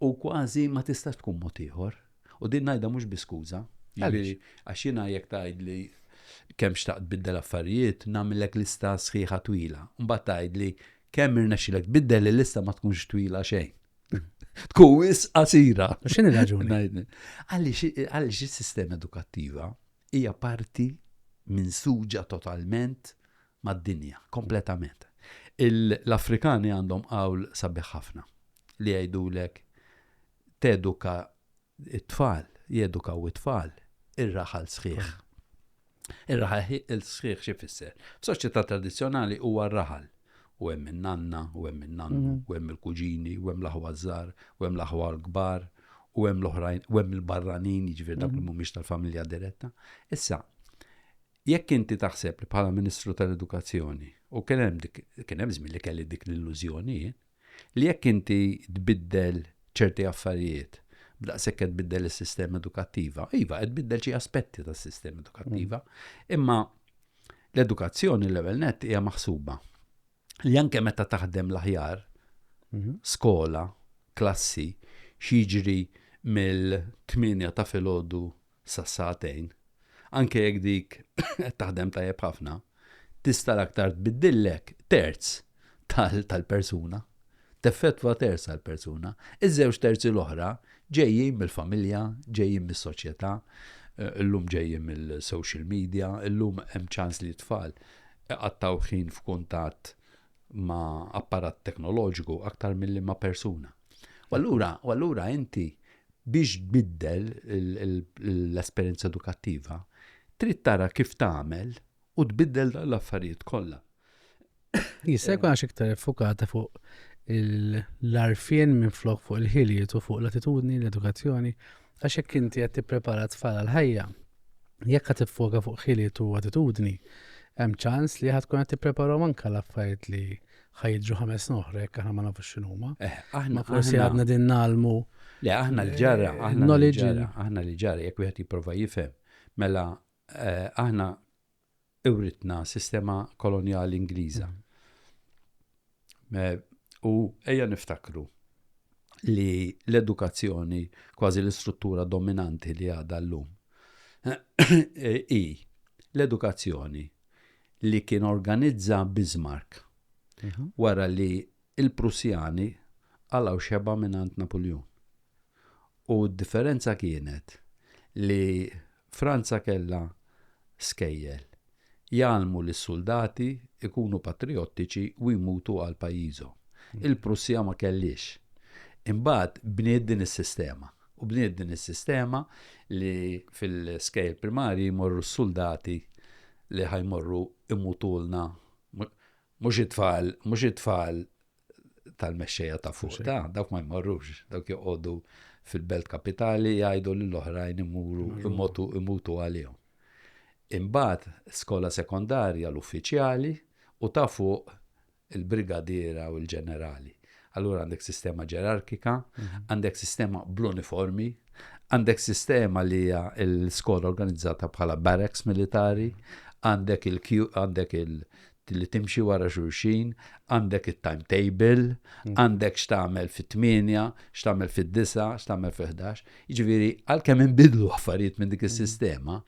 u kważi ma tistax tkun mod ieħor. U din ngħidha mhux bi skuża. Jiġifieri, għax jiena jekk tgħidli kemm xtaqt tbiddel affarijiet, nagħmillek lista sħiħa twila. Mbagħad tgħidli kemm irnexxilek tbiddel il-lista ma tkunx twila xejn. Tkun wis qasira. X'inhi raġuni? Għaliex is-sistema edukattiva hija parti minn suġa totalment mad-dinja kompletament. L-Afrikani għandhom qawl sabiħ ħafna li jgħidulek teduka t-tfal, jedukaw it-tfal ir-raħal sħiħ. Ir-raħal sħiħ xi fisser? F'soċjetà tradizzjonali huwa r-raħal u hemm in-nanna, u hemm in-nannu, mhm. u hemm il-kuġini, u hemm l-aħwa żgħar, u hemm l-aħwa l-kbar, u hemm l-oħrajn, u hemm il-barranin, jiġifieri dak li mhm. mhumiex tal-familja diretta. Issa, Jekk inti taħseb li bħala Ministru tal-Edukazzjoni, u kien hemm dik kien hemm żmien li kelli dik l-illużjoni jien, li jekk inti tbiddel ċerti affarijiet b'daqshekk qed tbiddel is-sistema edukattiva, iva qed tbiddel xi aspetti tas-sistema edukattiva, imma l-edukazzjoni l-ewwel nett hija maħsuba li anke meta taħdem l-aħjar, Mhm. skola, klassi, x'jiġri mill-8 ta' filgħodu sa sagħtejn, anke jekk dik qed taħdem tajjeb ħafna, tista' l-aktar tbiddillek terz tal-persuna, teffettwa terz tal-persuna, iż-żewġ terzi l-oħra ġejjin mill-familja, ġejjin mis-soċjetà, eh, illum ġejjin mill-social media, illum hemm ċans li tfal iqattaw ħin f'kuntatt ma' apparat teknoloġiku aktar milli ma' persuna. U allura, u allura inti biex tbiddel l-esperjenza edukattiva, trid tara kif tagħmel u tbiddel dan l-affarijiet kollha. Jista' jkun għax iktar effukata fuq l-arfien minn flok fuq il-ħiliet u fuq l-attitudni, l-edukazzjoni, Għax jekk inti qed tipprepara t-tfal għall-ħajja, jekk qed tiffoka fuq ħiliet u attitudni, hemm ċans li ħa tkun qed tippreparahom anke għal affarijiet li ħa jiġru ħames snin oħra jekk aħna ma nafux x'inhuma. Eh, aħna forsi għadna din nagħlmu. Le, aħna l-ġara, eh, aħna l-ġara, aħna l-ġara, jekk wieħed jipprova jifhem. Mela, eh, aħna iwritna sistema kolonjali Ingliża. Eh, u ejja niftakru li l-edukazzjoni kważi l-istruttura dominanti li għadha llum eh, i l-edukazzjoni li kien organizza Bismarck mhm. wara li il-Prussjani għalaw xeba minn Napoleon. U d-differenza kienet li Franza kellha skejjel jgħallmu lis-suldati jkunu patrijottiċi u jmutu għal pajjiżhom. Il-Prussja ma kellhiex. Imbagħad bniet din is-sistema u bniet din is-sistema li fil-skejjel primarji jmorru s-suldati li ħa jmorru jmutulna mhux it-tfal mhux it-tfal tal-mexxejja ta' fuq ta' dawk ma jmorrux, dawk joqogħdu fil-belt kapitali jgħidu lill oħrajn imuru imutu imutu għalihom. Imbagħad skola sekondarja l-uffiċjali u ta' fuq il-brigadiera u l-ġenerali. Allura għandek sistema ġerarkika, mhm. għandek sistema bl-uniformi, għandek sistema li hija l-skola organizzata bħala barracks militari, għandek il-Q, għandek il li timxi wara xulxin, għandek it-timetable, għandek x'tagħmel fit-8, x'tagħmel fid-9, x'tagħmel fil-11. Jiġifieri għalkemm inbidlu affarijiet minn dik is-sistema,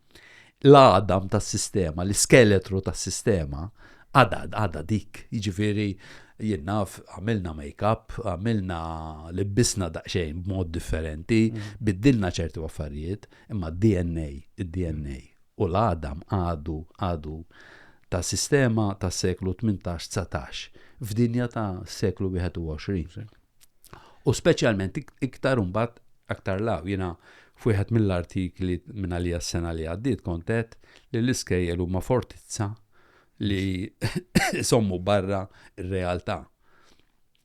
l-għadam tas-sistema, l-iskeletru tas-sistema, għada għada dik. Jiġifieri jien naf għamilna make-up, għamilna libbisna daqsxejn b'mod differenti, biddilna ċertu affarijiet, imma d-DNA, id-DNA u l-għadam għadu għadu ta' sistema tas-seklu tmintax, dsatax f'dinja ta' seklu wieħed u għoxrin. U speċjalment iktar imbagħad aktar law jiena f'wieħed mill-artikli minn għalija s-sena li għaddiet kont għedt li l-iskejjel huma fortizza li sommu barra r-realtà.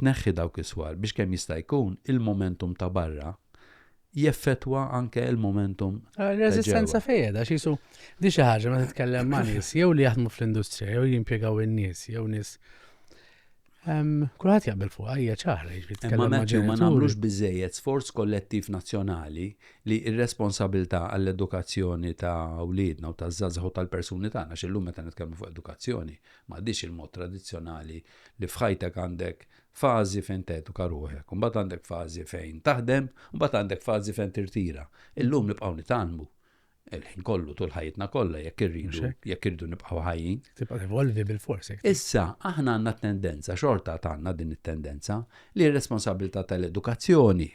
Tneħħi dawk is-swar biex kemm jista' jkun il-momentum ta' barra jeffettwa anke l-momentum ta' ġewwa. Ir-reżistenza fejn qiegħda? Għax qisu di xi ħaġa meta titkellem ma' nies jew li jaħdmu fl-industrija jew jimpjegaw in-nies jew nies kulħadd jaqbel fuqha hija ċara jiġifieri titkellem ma' ġenituri. Imma Matthew ma nagħmlux biżżejjed sforz kollettiv nazzjonali li r-responsabilità għall-edukazzjoni ta' wliedna u taż-żgħażagħ u tal-persuni tagħna għax illum meta nitkellmu fuq edukazzjoni m'għadhiex il-mod tradizzjonali li f'ħajtek għandek fażi fejn teduka ruħek, imbagħad għandek fażi fejn taħdem, imbagħad għandek fażi fejn tirtira. Illum nibqgħu nitgħallmu il-ħin kollu tul ħajjitna kollha jekk irridu jekk irridu nibqgħu ħajjin. Tibqa' evolvi bil-forsi. Issa aħna għandna tendenza xorta tagħna din it-tendenza li r-responsabilità tal-edukazzjoni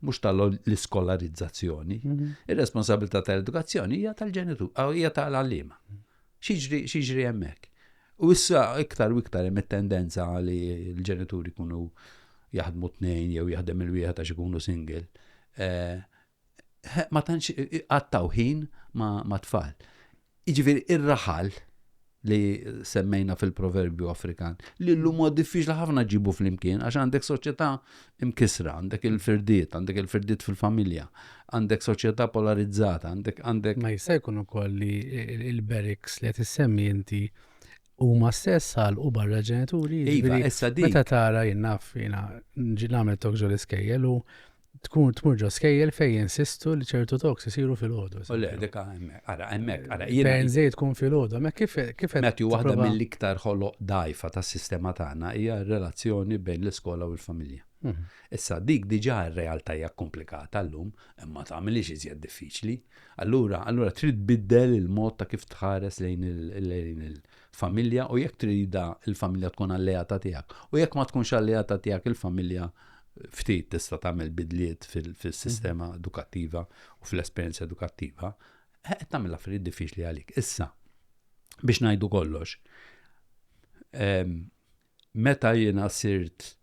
mhux tal-iskolarizzazzjoni, mhm. ir-responsabilità tal-edukazzjoni hija tal-ġenitur, hija tal-għalliema. Xiġri hemmhekk? U issa iktar u iktar hemm it-tendenza li l-ġenituri jkunu jaħdmu tnejn jew jaħdem il-wieħed għax ikunu single. Eh, ma tantx qattaw ħin ma' tfal. Jiġifieri ir-raħal li semmejna fil-proverbju Afrikan, li l-lum huwa diffiċli ħafna ġibu flimkien għax għandek soċjetà imkissra, għandek il-firdiet, għandek il-firdiet fil-familja, għandek soċjetà polarizzata, għandek għandek. Ma jista' jkun ukoll li il-beriks li qed issemmi inti huma stess għal u barra ġenituri. Iva, jiġifieri issa di. Meta tara jien naf jiena ġi nagħmel tok ġol iskejjel u tkun tmur ġo skejjel fejn jinsistu li ċertu toks isiru fil-ħodu. U le, dika hemmhekk. Ara, hemmhekk, ara, jiena. Fejn żejt tkun filgħodu, hemmhekk kif kif qed. Matthew, waħda tipprova- mill-iktar ħoloq dgħajfa tas-sistema tagħna hija r-relazzjoni bejn l-iskola u l-familja. Mhm. Issa, dik diġà r-realtà hija kkumplikata llum, imma ma tagħmilhiex iżjed diffiċli. Allura, allura trid tbiddel il-mod ta' kif tħares lejn il- lejn il- familja u jekk trida il-familja tkun alleata tiegħek. U jekk ma tkunx alleata tiegħek il-familja ftit tista' tagħmel bidliet fil-sistema mhm. edukattiva u fl-esperjenza edukattiva, qed tagħmel affarijiet diffiċli għalik. Issa, biex ngħidu kollox, ehm, meta jiena sirt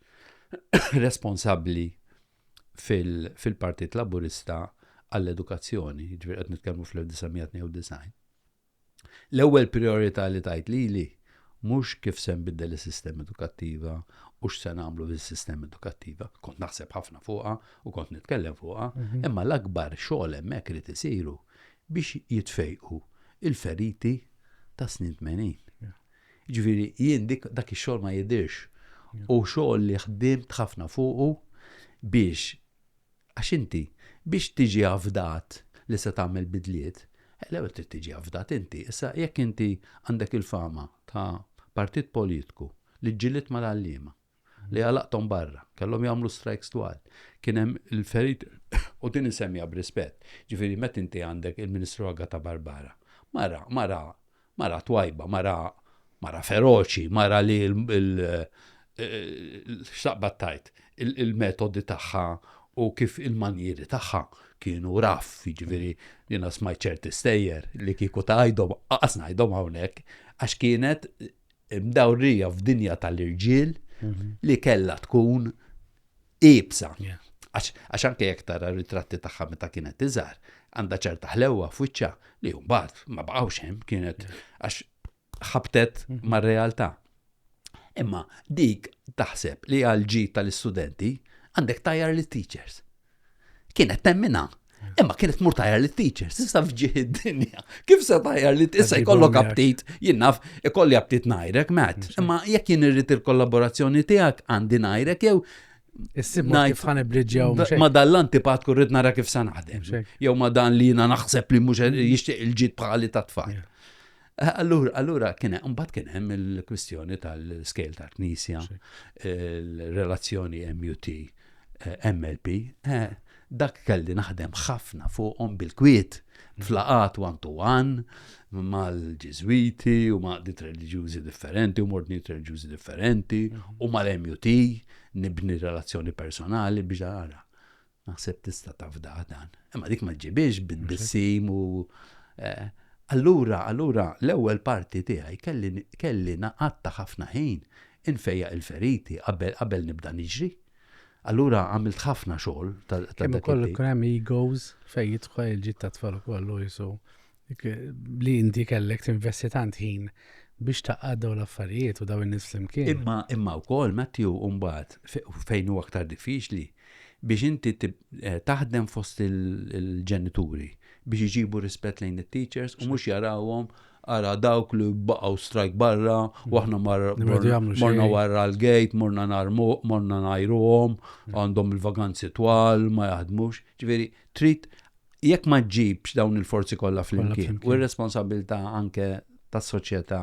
responsabbli fil-Partit Laburista għall-edukazzjoni, ġviri għed nitkellmu fl-1992. L-ewwel prijorità li tgħid lili mhux kif se nbiddel is-sistema edukattiva u x'se nagħmlu bis-sistema edukattiva. Kont naħseb ħafna fuqha u kont nitkellem fuqha, imma l-akbar xogħol hemmhekk irid isiru biex jitfejqu l-feriti tas-snin tmenin. Jiġifieri jien dak ix-xogħol ma jidhirx. Hu xogħol li ħdimt ħafna fuqu biex Għax inti, biex tiġi afdat li se tagħmel bidliet, l-ewwel trid tiġi afdat inti. Issa, jekk inti għandek il-fama ta' partit politku li ġġielied mal-għalliema, li għalaqthom barra, kellhom jagħmlu strajks twal, kien hemm il-feriti, u din insemmiha b'rispett, jiġifieri meta inti għandek il-Ministru Agata Barbara, mara, mara Mara twajba, mara mara feroċi, mara li x'taqbad tgħid, il-metodi tagħha u kif il-manjieri tagħha kienu raff, jiġifieri jiena smajt ċerti stejjer li kieku tgħidhom qas ngħidhom hawnhekk għax kienet mdawrija f'dinja tal-irġiel li kellha tkun iebsa. Għax anke jekk tara ritratti tagħha meta kienet iżgħar, għandha ċerta ħlewwa f'wiċċha li mbagħad ma baqgħux hemm kienet għax ħabtet mhm. mar-realtà. Imma dik taħseb li għal ġid tal-istudenti għandek tajjar lit-teachers. kienet temmina. Imma kienet mur tajjar li teacher, sissa fġiħ id-dinja. Kif se tajjar li tissa jkollok aptit, jinnaf, ikolli aptit najrek, Matt. Imma jekk jien irrit il-kollaborazzjoni tijak, għandi najrek, jew Issib kif ħan ibriġġaw. Ma dan l-antipatku rrid nara kif sa naħdem. Jew ma dan li jina naħseb li mhux jixtieq il-ġid bħali ta' tfal. Allura, allura kien hemm mbagħad kien hemm il-kwistjoni tal-scale tal-Knisja, il-relazzjoni MUT, eh, MLP, eh, dak kelli naħdem ħafna fuqhom bil-kwiet flaqat one to one mal-ġizwiti u ma' dit reliġjużi differenti u mordni reliġjużi differenti u mal-MUT nibni relazzjoni personali biex għara. Naħseb tista' tafdah dan. Imma dik ma ġġibhiex bit-tissim u eh, allura allura l-ewwel parti tiegħi kelli kelli naqatta ħafna ħin infejjaq il-feriti qabel qabel nibda niġri. Allura għamilt ħafna xogħol ta' Kemm ukoll ikun hemm egos fejn jidħol il-ġid tat-tfal ukoll u jisu Li inti kellek tinvesti tant ħin biex taqgħad daw l-affarijiet u daw in-nies flimkien. Imma imma wkoll Matthew mbagħad fejn hu aktar diffiċli biex inti eh, taħdem fost il-ġenituri biex iġibu rispett lejn it-teachers u mhux jarawhom ara dawk li baqgħu strajk barra u aħna morna warra l-gate, morna narmu, morna najruhom, għandhom il-vaganzi twal, ma jaħdmux. Ġifieri, trid jekk ma ġġibx dawn il-forzi kollha flimkien u r-responsabilità anke tas-soċjetà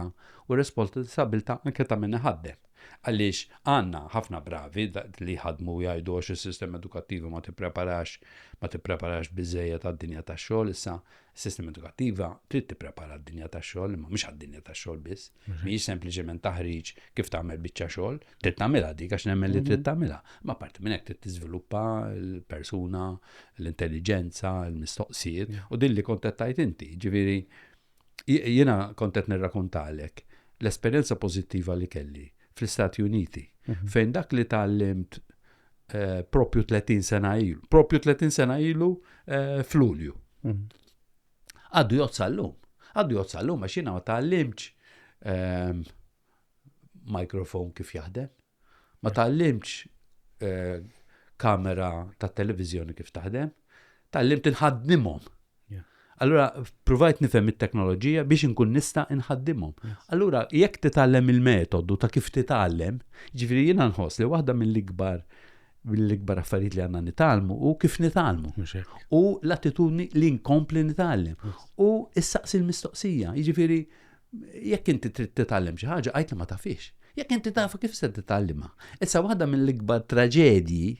u r-responsabilità anke ta' min iħaddem. Għaliex għandna ħafna bravi li jħadmu jgħidu għax is-sistema edukattiva ma tippreparax ma tippreparax biżejjed għad-dinja tax-xogħol issa s-sistema edukattiva trid tipprepara d-dinja tax-xogħol imma mhux għad-dinja tax-xogħol biss. Mhijiex sempliċement taħriġ kif tagħmel biċċa xogħol, trid tagħmilha dik għax nemmen li trid mhm. tagħmilha. Ma parti minn hekk trid tiżviluppa l-persuna, l-intelligenza, l-mistoqsijiet u din li kontettajt inti. Ġifieri jiena kontet nirrakuntalek l-esperjenza pożittiva li kelli fl-Istati Uniti mhm. fejn dak li tgħallimt eh, propju 30 sena ilu, propju 30 sena ilu eh, fl-Ulju. Mhm. Għaddu jgħod sal-lum. Għaddu jgħod sal-lum għax jiena ma tgħallimx ehm, mikrofon kif jaħdem. Ma tgħallimx eh, kamera ta' televizjoni kif taħdem. Tgħallimt inħaddimhom. Allura, provajt nifhem it-teknoloġija biex inkun nista' inħaddimhom. Allura, jekk titgħallem il-metodu ta' kif titgħallem, ġifieri jiena nħoss li waħda mill-ikbar mill-ikbar affarijiet li għandna nitgħallmu u kif nitgħallmu. U l-attitudni li nkompli nitgħallem. U issaqsi l-mistoqsija, jiġifieri jekk inti trid titgħallem xi ħaġa għajt li ma tafix. Jekk inti tafu kif se titgħallimha. Issa waħda mill-ikbar traġedji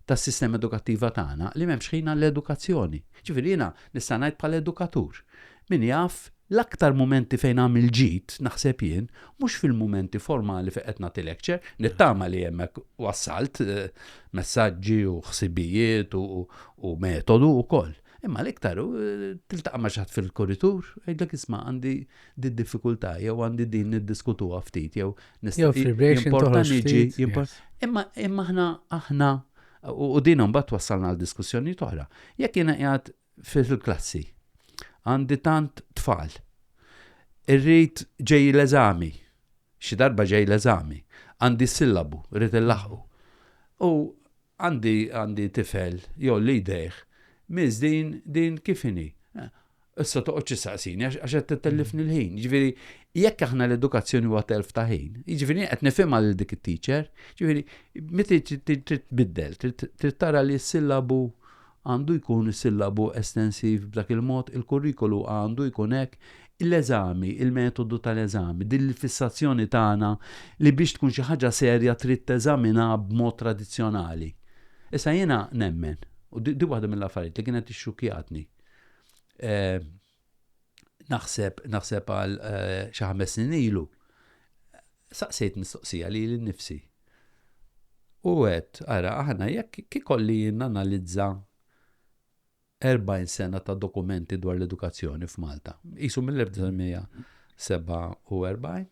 tas-sistema edukattiva tagħna li m'hemmx ħina l-edukazzjoni. Ġifieri jiena nista' ngħid bħala edukatur. Min jaf, l-aktar mumenti fejn għamilt ġid, naħseb jien, mhux fil-mumenti formali fejn qed nagħti lecture, nittama li hemmhekk wassalt messaġġi u ħsibijiet u metodu wkoll. Imma l-iktar hu tiltaqa' ma' xi ħadd fil-kuritur u jgħidlek isma' għandi did-diffikultà jew għandi din niddiskutuha ftit jew jimporta niġi imma aħna aħna u din imbagħad twassalna għal diskussjonijiet oħra. Jekk jiena qiegħed fil-klassi. Għandi tant tfal. Irrid ġej l-eżami. Xi darba ġej l-eżami. Għandi sillabu, rrid il-laħu. U għandi għandi tifel, jew li jdejħ, miż din din kifini. Issa toqgħod ċissaqsini għax qed titellifni l-ħin. Ġifieri, jekk aħna l-edukazzjoni huwa telf ta' ħin, jiġifieri qed nifhimha lil dik it-teacher, ġifieri meta trid tbiddel, trid tara li s-sillabu għandu jkun is-sillabu estensiv b'dak il-mod, il-kurrikulu għandu jkun hekk, l-eżami, il-metodu tal-eżami, din l-fissazzjoni tagħna li biex tkun xi ħaġa serja trid teżaminha b'mod tradizzjonali. Issa jiena nemmen, u din waħda mill-affarijiet li kienet ixxukkjatni, naħseb naħseb għal eh, xi ħames snin ilu saqsejt mistoqsija li l-nifsi. U għed, ara, aħna jekk kikolli nanalizza 40 sena ta' dokumenti dwar l-edukazzjoni f'Malta. Isu mill-1947,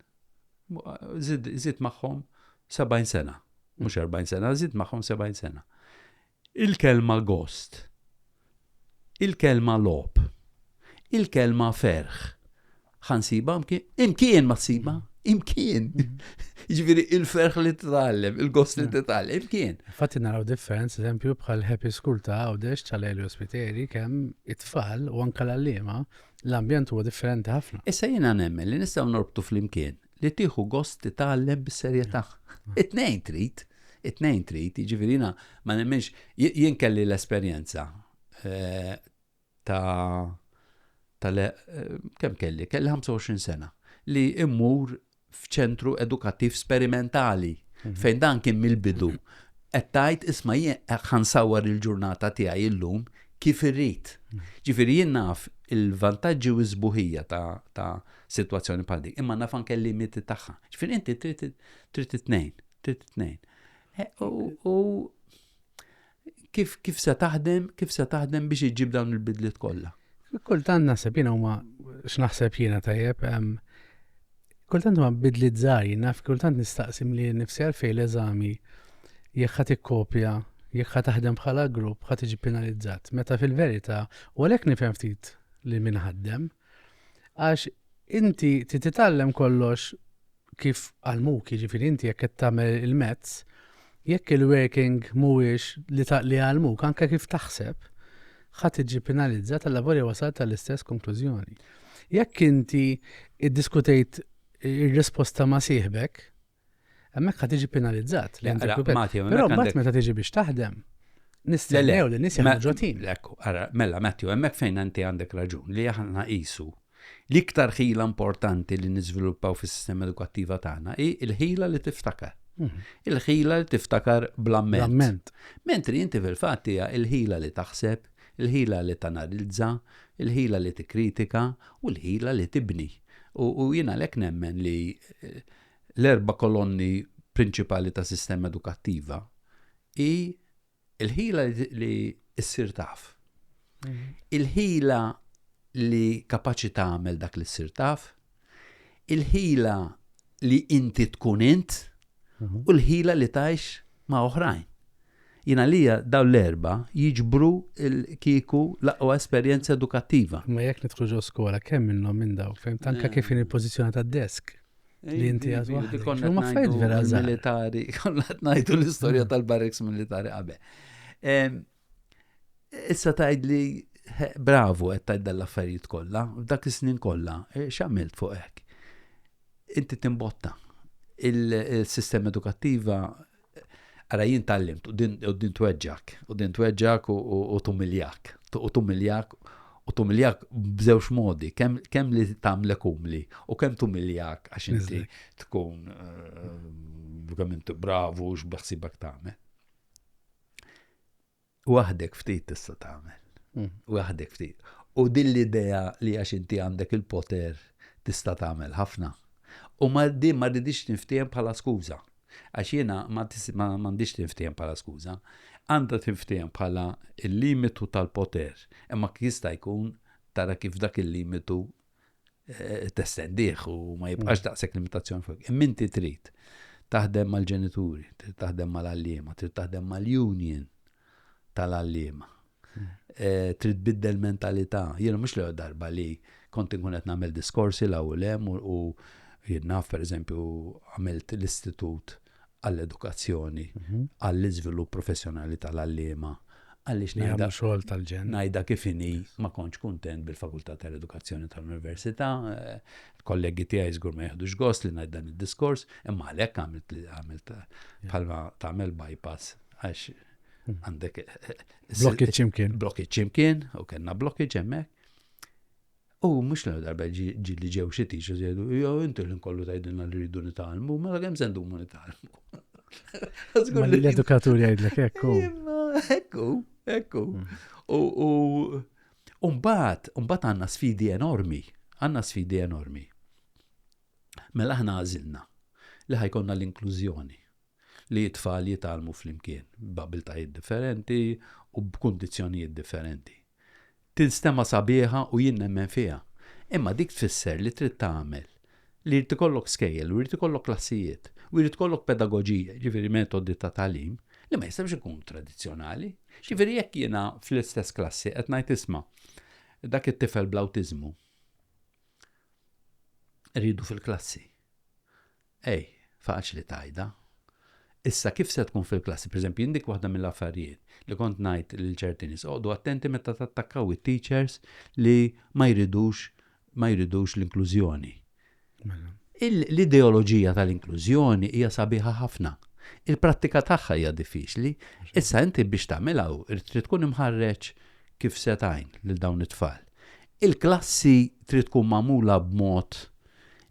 zid maħħom 70 sena, mux 40 sena, zid maħħom 70 sena. Il-kelma gost. Il-kelma logħob. Il-kelma ferħ. Ħa nsibha imkien? Imkien ma ssibha! Imkien! Jiġifieri il-ferħ li titgħallem, il-gost li titgħallem, imkien. Infatti naraw differenza, eżempju, bħal Happy School ta' Għawdex ta' Lelio Spiteri kemm it-tfal u anke l-għalliema l-ambjent huwa differenti ħafna. Issa jiena nemmen li nistgħu norbtu flimkien li tieħu gost titgħallem bis-serjetà. It-tnejn trid, it-tnejn trid, jiġifieri jiena ma nemminx jien kelli l-esperjenza eh, ta' ta' eh, kemm kelli, kelli 25 sena li immur f'ċentru edukattiv sperimentali mhm. fejn dan kien mill-bidu qed tgħid isma' jien ħansawar il-ġurnata tiegħi illum kif irrid. Mhm. Ġifieri jien naf il-vantaġġi u l-sbuħija ta' sitwazzjoni bħal dik, imma naf anke l-limiti tagħha. Ġifieri inti trid trid it-tnejn, trid it-tnejn. Eh, u kif kif se taħdem, kif se taħdem biex iġib dawn il-bidliet kollha? Kultant naħseb jiena huma x'naħseb jiena tajjeb, kultant huma bidliet żgħar, naf kultant nistaqsim li nifsi għalfejn l-eżami jekk ħadd ikkopja jekk ħa taħdem bħala grupp ħa tiġi penalizzat. Meta fil-verità, u għalhekk nifhem ftit li min ħaddem, Għax inti trid titgħallem kollox kif għallmuk, jiġifieri inti jekk qed tagħmel il-mezz, jekk il-working mhuwiex li taqli għallmuk anke kif taħseb, ħa tiġi penalizzat għal lavorja wasal tal-istess konklużjoni. Jekk inti iddiskutejt ir-risposta ma' sieħbek, Hemmhekk ħa tiġi penalizzat. Però mbagħad meta tiġi biex taħdem, nistennew li nies jagħmlu ġotin. Ara, mela Matthew, hemmhekk fejn inti għandek raġun li aħna qisu l-iktar ħila importanti li niżviluppaw fis-sistema edukattiva tagħna hi l-ħila li tiftakar. Mhm. Il-ħila li tiftakar bl-amment. Mentri inti fil-fatt hija il-ħila li taħseb, il-ħila li tanalizza, il-ħila li tikkritika u l-ħila li tibni. U jiena lek nemmen li eh, l-erba' kolonni prinċipali ta' sistema edukattiva hi l-ħila li ssir taf. Mhm. Il-ħila li kapaċi tagħmel dak li ssir taf, il-ħila li inti tkun int mhm. u l-ħila li tajx ma' oħrajn. Jina lija daw l-erba jiġbru il-kiku laqwa esperienza edukattiva. Ma jek nitħuġu skola, kemm minnhom minn daw, fem tanka eh. kif in il-pozizjoni ta' desk. Li inti għad waħdi. Konna ma fejt vera militari, konna t-najtu l-istoria tal-barreks militari għabe. Issa tajd li bravo għed tajd dal-affarijiet kolla, dak is-snin kolla, e, xamilt fuq hekk. Inti timbotta. Il-sistema edukattiva Ara jien tgħallimt u din u din tweġġak, u din tweġġak u, u, u tumiljak, u tumiljak u tumiljak b'żewġ modi, kemm kem li tagħmlek umli u kemm tumiljak għax inti tkun uh, bravu x'beħsibek tagħmel. Waħdek ftit tista' tagħmel. Hmm. Waħdek ftit. U din l-idea li għax inti għandek il-poter tista' tagħmel ħafna. U ma din ma ridix tinftiehem bħala skuża. Għax jiena ma għandix tinftiehem bħala skuża. Għandha tinftiehem bħala il-limitu tal-poter. Imma jista' jkun tara kif dak il-limitu testendih u ma jibqax mm. daqshekk limitazzjoni fuq. Imma inti trid taħdem mal-ġenituri, trid taħdem mal-għalliema, trid taħdem mal-union tal-għalliema. Mm. Eh, trid biddel mentalità. Jiena mhux l darba li kont inkun qed nagħmel diskorsi l hemm u jien naf pereżempju għamilt l-istitut għall-edukazzjoni, mhm. għall-iżvilupp professjonali tal-għalliema, għaliex ngħidha xogħol tal-ġen. Ngħidha kif inhi ma kontx kuntent bil-Fakultà tal-Edukazzjoni tal-Università, eh, kollegi tiegħi żgur ma jeħdux gost li ngħid dan id-diskors, imma għalhekk għamilt li għamilt bħalma tagħmel bypass għax hmm. għandek eh, eh, blokki ċimkien. Blokki ċimkien u kellna blokki ġemmek. U mhux l darba ġi li ġew xi teachers jgħidu, jew inti l kollu tgħidilna li rridu nitgħallmu, mela kemm se ndumu nitgħallmu. L-edukatur jgħidlek ekku. Ekku, ekku. Mm. U mbagħad, mbagħad għandna sfidi enormi, għandna sfidi enormi. Mela aħna għażilna li ħajkonna l-inklużjoni. li t-tfal jitgħallmu flimkien, b'abiltajiet differenti u b'kundizzjonijiet differenti. Tinstema' sabiħa u jien nemmen fiha, imma dik tfisser li trid tagħmel li jrid ikollok skejjel u jrid ikollok klassijiet u jrid ikollok pedagoġija, jiġifieri metodi ta' tagħlim, li ma jistgħux ikunu tradizzjonali. Jiġifieri jekk jiena fl-istess klassi qed ngħid isma' dak it-tifel bl-awtiżmu rridu fil-klassi. Ej, faċli tgħidha. Issa kif se tkun fil-klassi? Pereżempju, jien dik waħda mill-affarijiet li kont ngħid lil ċerti nies, oqgħodu attenti meta tattakkaw it-teachers li ma jridux ma jridux l-inklużjoni. L-ideoloġija tal-inklużjoni hija sabiħa ħafna. Il-prattika tagħha hija diffiċli. Issa inti biex tagħmilha trid tkun imħarreġ kif se tgħin lil dawn it-tfal. Il-klassi trid tkun magħmula b'mod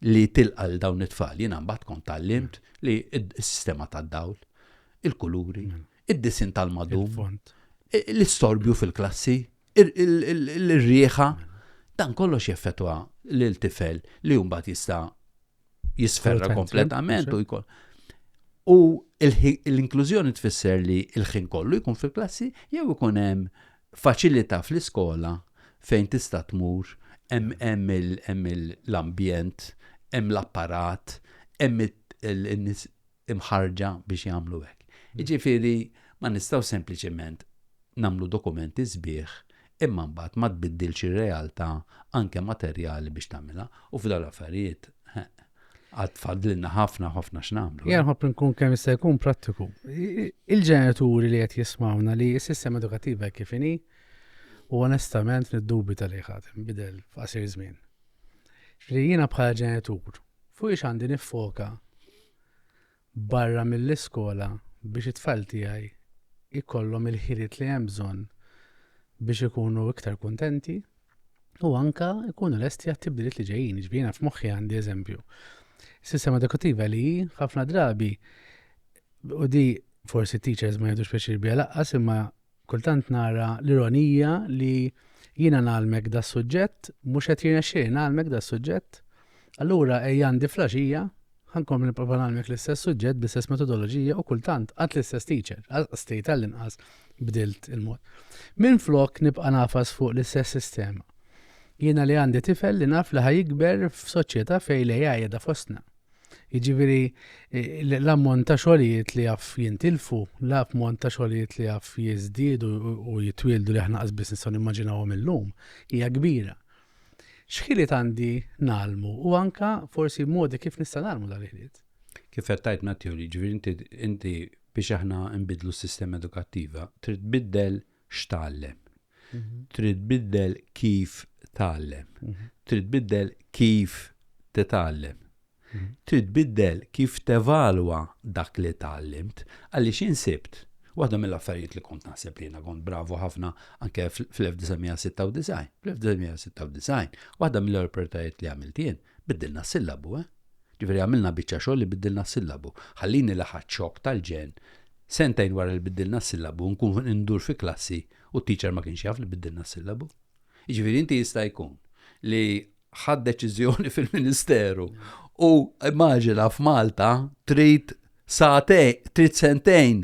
li tilqa' lil dawn it-tfal. Jiena mbagħad kont tgħallimt li s-sistema tad-dawl, il-kuluri, mm. id-disinn tal-madum, l-istorbju fil-klassi, ir-rieħa, dan kollox jeffetwa lil tifel li mbagħad jista' jisferra kompletament u jkun. U l-inklużjoni tfisser li l-ħin kollu jkun fil-klassi jew ikun hemm Faċilità fl-iskola fejn tista' tmur, hemm hemm il hemm il l-ambjent, hemm l-apparat, hemm it in-nies imħarrġa biex jagħmlu hekk. Jiġifieri ma nistgħux sempliċement nagħmlu dokumenti sbieħ imma mbagħad ma tbiddilx ir-realtà anke materjali biex tagħmilha u f'dawn l-affarijiet, heeh. għad fadlinna ħafna ħafna x'namlu. Jien ħobb nkun kemm jista' jkun prattiku. Il-ġenituri li qed jismawna li s-sistema edukattiva kif inhi u onestament niddubi tal ħatem bidel f'qasir żmien. Li jiena bħala ġenitur fuq ix għandi nifoka barra mill-iskola biex it-tfal tiegħi jkollhom il-ħiliet li hemm bżonn biex ikunu iktar kuntenti u anke jkunu lesti għat-tibdiliet li ġejjin. Jiġifieri jiena f'moħħi għandi eżempju. Sistema edukattiva li hi ħafna drabi u di forsi t-teachers ma jgħidux pjaċir biha laqqas imma Kultant nara l-ironija li jiena ngħallmek das-suġġett, mhux qed jirnexxieli ngħallmek das-suġġett, allura ejja għandi fl-għaxija, ħa nkompli nipprova ngħallmek l-istess suġġett bl-istess metodoloġija u kultant għad l-istess teacher, għas tgħid għall-inqas bdilt il-mod. Minflok nibqa' ngħafas fuq l-istess sistema. Jiena li għandi tifel li naf li ħa jikber f'soċjetà fejn l-AI qiegħda fostna. Jiġifieri l-ammont ta' xogħlijiet li jaf jintilfu, l-ammont ta' xogħlijiet li jaf jiżdiedu u jitwieldu li aħna qas biss nistgħu nimmaġinawhom illum hija kbira. X'ħiliet għandi nagħlmu u anke forsi modi kif nista' nagħlmu dan il-ħiliet? Kif qed tgħid Matthew, jiġifieri inti biex aħna nbiddlu s-sistema edukattiva trid tbiddel x'tgħallem. Trid tbiddel kif tgħallem. Trid tbiddel kif titgħallem. Trid tbiddel kif tevalwa dak li tgħallimt għaliex insibt Waħda mill-affarijiet li kont naħseb li jiena kont bravu ħafna anke fl-1996. Fl-1996, waħda mill-opportunitajiet li għamilt jien Biddilna s-sillabu, eh? Ġifieri għamilna biċċa xogħol li biddilna s-sillabu. Ħallini laħqt xokk tal-ġenn. Sentejn wara li biddilna s-sillabu nkun indur fi klassi u t-teacher ma kienx jaf li biddilna s-sillabu. Jiġifieri inti jista' jkun li ħadt deċiżjoni fil-Ministeru u immaġina f'Malta trid Sagħtejn, trid sentejn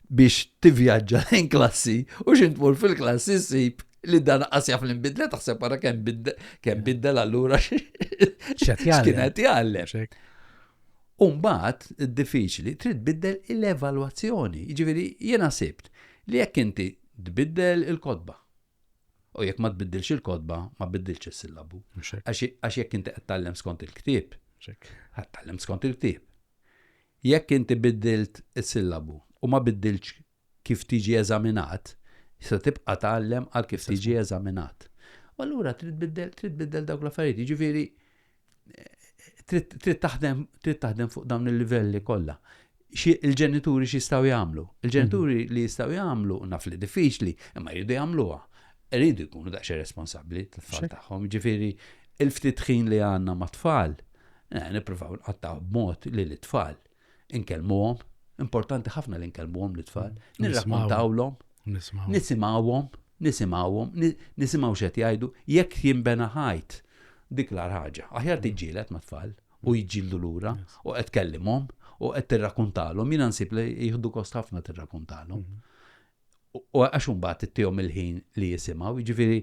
biex tivvjaġġa lejn klassi u xi tmur fil-klassi ssib li dan qas jaf li nbidle taħseb ara kemm bidde, kemm biddel allura X'qed jgħallem. x'kienet jgħallem. Xek. Umbat, diffiċli, trid tbiddel l-evalwazzjoni. Jiġifieri jiena sibt li jekk inti tbiddel il-kotba, U jekk ma tbiddilx il-kotba, ma biddilx is-sillabu. Għax jekk inti qed tallem skont il-ktieb, qed tallem skont il-ktieb. Jekk inti biddilt is-sillabu u ma biddilx kif tiġi eżaminat, se tibqa' tgħallem għal kif tiġi eżaminat. U allura trid tbiddel, trid tbiddel dawk l-affarijiet. Jiġifieri trid taħdem trid taħdem fuq dawn il-livelli kollha. Il-ġenituri x'jistgħu jagħmlu? Il-ġenituri mhm. li jistgħu jagħmlu naf li diffiċli, imma jridu jagħmluha. Iridu jkunu daqsxi responsabbli tal-tfal tagħhom. Ġifieri il-ftit ħin li għandna mat-tfal, eh, nippruvaw nqattaw b'mod li l-tfal Inkellmuhom, importanti ħafna li nkellmuhom l-tfal, mm. nirrakkontawlhom, nisimgħuhom, nisimgħuhom, nisimgħu x'qed jgħidu, jekk jinbena ħajt dik l ħaġa. Aħjar mm. tiġġieled ma' tfal u jġildu lura u qed kellimhom u qed tirrakkontalhom, jiena nsib li jieħdu kost ħafna tirrakkontalhom. Mm. U għax imbagħad ittihom il-ħin li jisimgħu, jiġifieri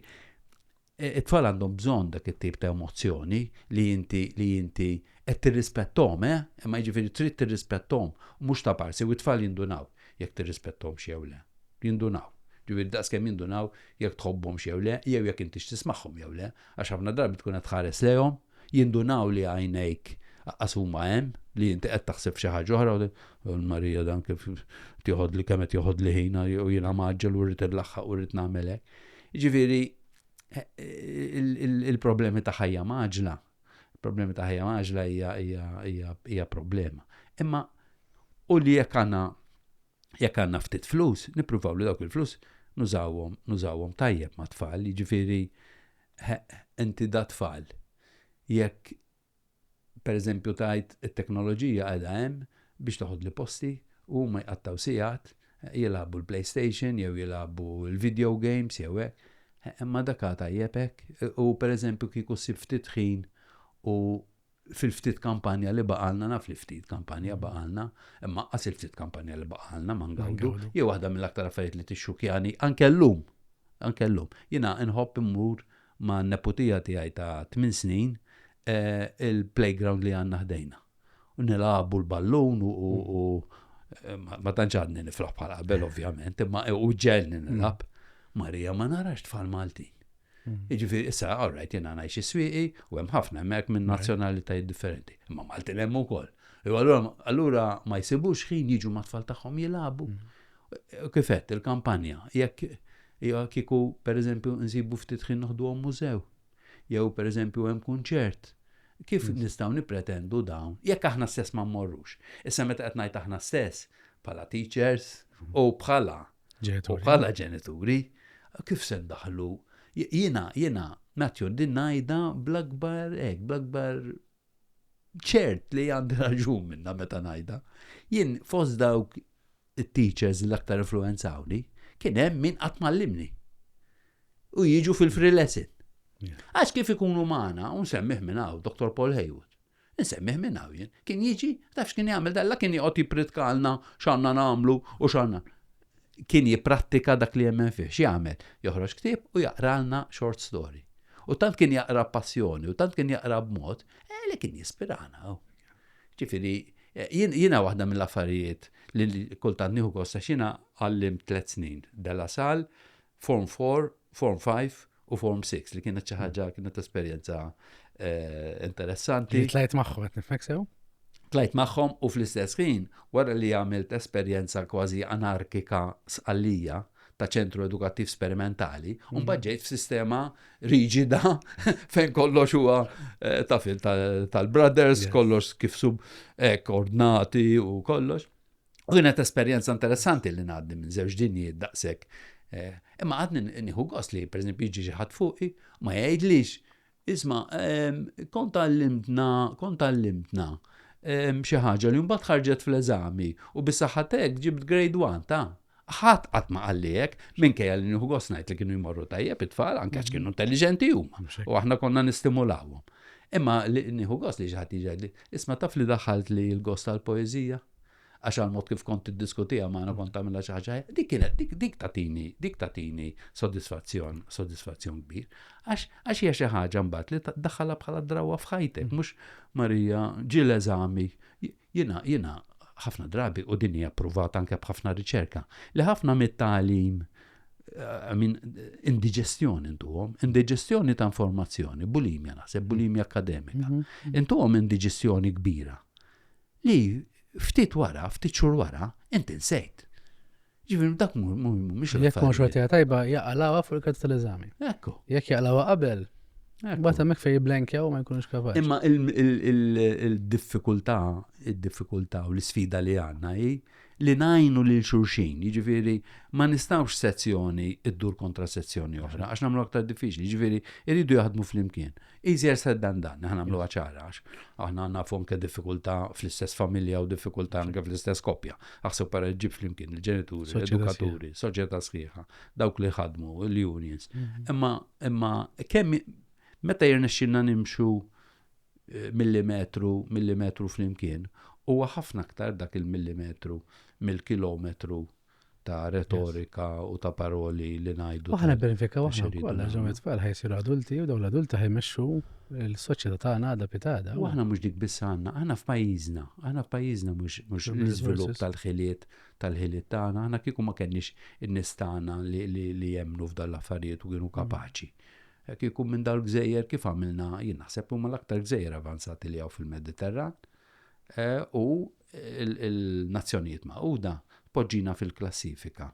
E, it-tfal għandhom bżonn dak it-tip ta' emozzjoni li inti li inti qed tirrispettom, eh? Imma jiġifieri trid tirrispettom u mhux ta' parsi u t-tfal jindunaw jekk tirrispettom jew le. Jindunaw. Ġifieri daqs kemm jindunaw jekk tħobbhom jew le, jew jekk intix tismagħhom jew le, għax ħafna drabi tkun qed tħares lejhom Jindunaw li għajnejk aqqas huma hemm, li inti qed taħseb f'xi ħaġa oħra u tgħid, Marija dan kif tieħodli kemm qed joħodli ħin u jiena mgħaġġel u rrid inlaħħaq u rrid nagħmel hekk. Jiġifieri il-problemi ta' ħajja maġla, problemi ta' ħajja maġla hija problema. Imma u li jekk għandna jekk għandna ftit flus, nippruvaw li dawk il-flus nużawhom nużawhom tajjeb ma' tfal, jiġifieri Heq, inti da tfal. Jekk per eżempju tgħid it-teknoloġija qiegħda hemm biex teħodli posti u huma jqattgħu sigħat jilagħbu l-playstation jew jilagħbu l-video games jew hekk, heq imma dak għad tajjeb hekk u per eżempju kieku ssib ftit ħin u fil-ftit kampanja li baqalna, naf li ftit kampanja baqalna, imma qas il-ftit kampanja li baqalna ma ngawdu, jew waħda mill-aktar affarijiet li tixxukjani, anke llum, anke llum. Jiena nħobb immur ma' neputija tiegħi ta' tmien snin eh, il-playground li għandna ħdejna. U nilagħbu l-ballun u eh, ma tantx għadni nifraħ bħal qabel ovvjament, imma u ġelni nilab. Marija ma narax tfal Maltin. Jiġifieri issa all right jiena ngħix is-Swieqi u hemm ħafna hemmhekk minn nazzjonalitajiet differenti, imma Maltin hemm ukoll. Jew allura allura ma jsibux ħin jiġu mat-tfal tagħhom jilagħbu. U kif għedt il-kampanja, jekk jew kieku pereżempju nsibu ftit ħin noħduhom mużew, jew pereżempju hemm kunċert, kif nistgħu nippretendu dawn jekk aħna stess ma mmorrux? Issa meta qed ngħid aħna stess, bħala teachers u bħala U bħala ġenituri, kif se ndaħlu? Jiena, jiena, natju din najda bl-akbar, ek, bl-akbar ċert li għandi raġun minna meta najda. Jien fost dawk teachers l-aktar influenzawni, kien hemm min qatt mallimni. U jiġu fil-free lesson. Għax kif ikunu maħna, un semmiħ minn hawn, Dr. Paul Haywood. Insemmih minn hawn jien. Kien jiġi, taf x'kien jagħmel dan? La kien joqgħod jippritkalna x'għandna nagħmlu u x'għandna. Kien jipprattika dak li jemmen fih. X'jagħmel? Joħroġ ktieb u jaqralna short story. U tant kien jaqra b'passjoni u tant kien jaqra b'mod eh, li kien jispirana. Oh. Ġifieri, eh, jiena waħda mill-affarijiet li kultant nieħu kosta xina għallim tliet snin. Della Sal, Form Four, Form Five u Form Six li kienet xi ħaġa kienet esperjenza eh, interessanti. Tlajt magħhom qed nifhmek sew? Tlajt magħhom u fl-istess ħin wara li għamilt esperjenza kważi anarkika sqallija ta' ċentru edukattiv sperimentali, un mhm. bħagġejt f'sistema riġida fejn kollox huwa eh, tafil tal-brothers, kollox kif sub ek ordnati u kollox. U kienet esperjenza interessanti li ngħaddi minn żewġ dinjiet daqshekk. Eh, imma għadni nieħu gost li pereżempju jiġi xi ħadd fuqi ma jgħidlix isma' ehm, kont għallimtna, kont għallimtna ehm, xi ħaġa li mbagħad ħarġet fl-eżami u bis-saħħatek ġibt grade 1 ta' ħadd qatt ma qalliek minkejja li nieħu gost ngħid li kienu jmorru tajjeb it-tfal anke għax kienu intelliġenti huma u aħna konna nistimulawhom. Imma li nieħu gost li xi ħadd jiġi isma' taf li daħalt li l-gost tal-poeżija għax għal mod kif kont tiddiskutiha magħna kont tagħmilha xi ħaġa dik kienet dik dik tatini dik tatini sodisfazzjon sodisfazzjon kbir għax għax hija xi ħaġa mbagħad li daħħalha bħala drawwa f'ħajtek mm. mhux Marija ġie l-eżami jiena jiena ħafna drabi u din hija provata anke b'ħafna riċerka li ħafna mit-tagħlim eh, minn indiġestjoni intuhom, indiġestjoni ta' informazzjoni, bulimja naħseb, bulimja akademika. Mhm, mhm. Intuhom indiġestjoni kbira Li ftit wara, ftit xhur wara, inti nsejt. Ġifieri dak mhumiex l-affarijiet. Jekk ma xorta hija tajba, jaqalgħuha fuq il-karta tal-eżami. Ekku. Jekk jaqalgħuha qabel, Mbagħad hemmhekk fejn jiblenkjaw ma jkunux kapaċi. Imma il-diffikultà, id-diffikultà u l-isfida li għandna hi li ngħinu lil xulxin, jiġifieri ma nistgħux sezzjoni ddur kontra sezzjoni oħra għax nagħmlu aktar diffiċli, jiġifieri jridu jaħdmu flimkien. Easier said than done, aħna nagħmluha ċara għax aħna nafu anke diffikultà fl-istess familja u diffikultà anke fl-istess koppja. Aħseb para ġib flimkien il-ġenituri, l-edukaturi, soċjetà sħiħa, dawk li ħadmu, l-unions. Mhm. Imma imma kemm meta jirnexxilna nimxu millimetru, millimetru flimkien, huwa ħafna aktar dak il-millimetru mill-kilometru ta' retorika u ta' paroli li ngħidu. Aħna nibbenefikaw aħna wkoll għax dawn it-tfal ħa jsiru adulti u dawn l-adulti ħa jmexxu l-soċjetà tagħna għadha pitada. U aħna mhux dik biss għandna, aħna f'pajjiżna, aħna f'pajjiżna mhux l-iżvilupp tal-ħiliet tal-ħiliet tagħna, aħna kieku ma kenniex in-nies tagħna li jemmnu f'dan l-affarijiet u kienu kapaċi. Hekk ikun minn dawn il-gżejjer kif għamilna, jien naħseb li huma l-aktar gżejjer avanzati li hawn fil-Mediterran, u l-Nazzjonijiet Magħquda tpoġġina fil-klassifika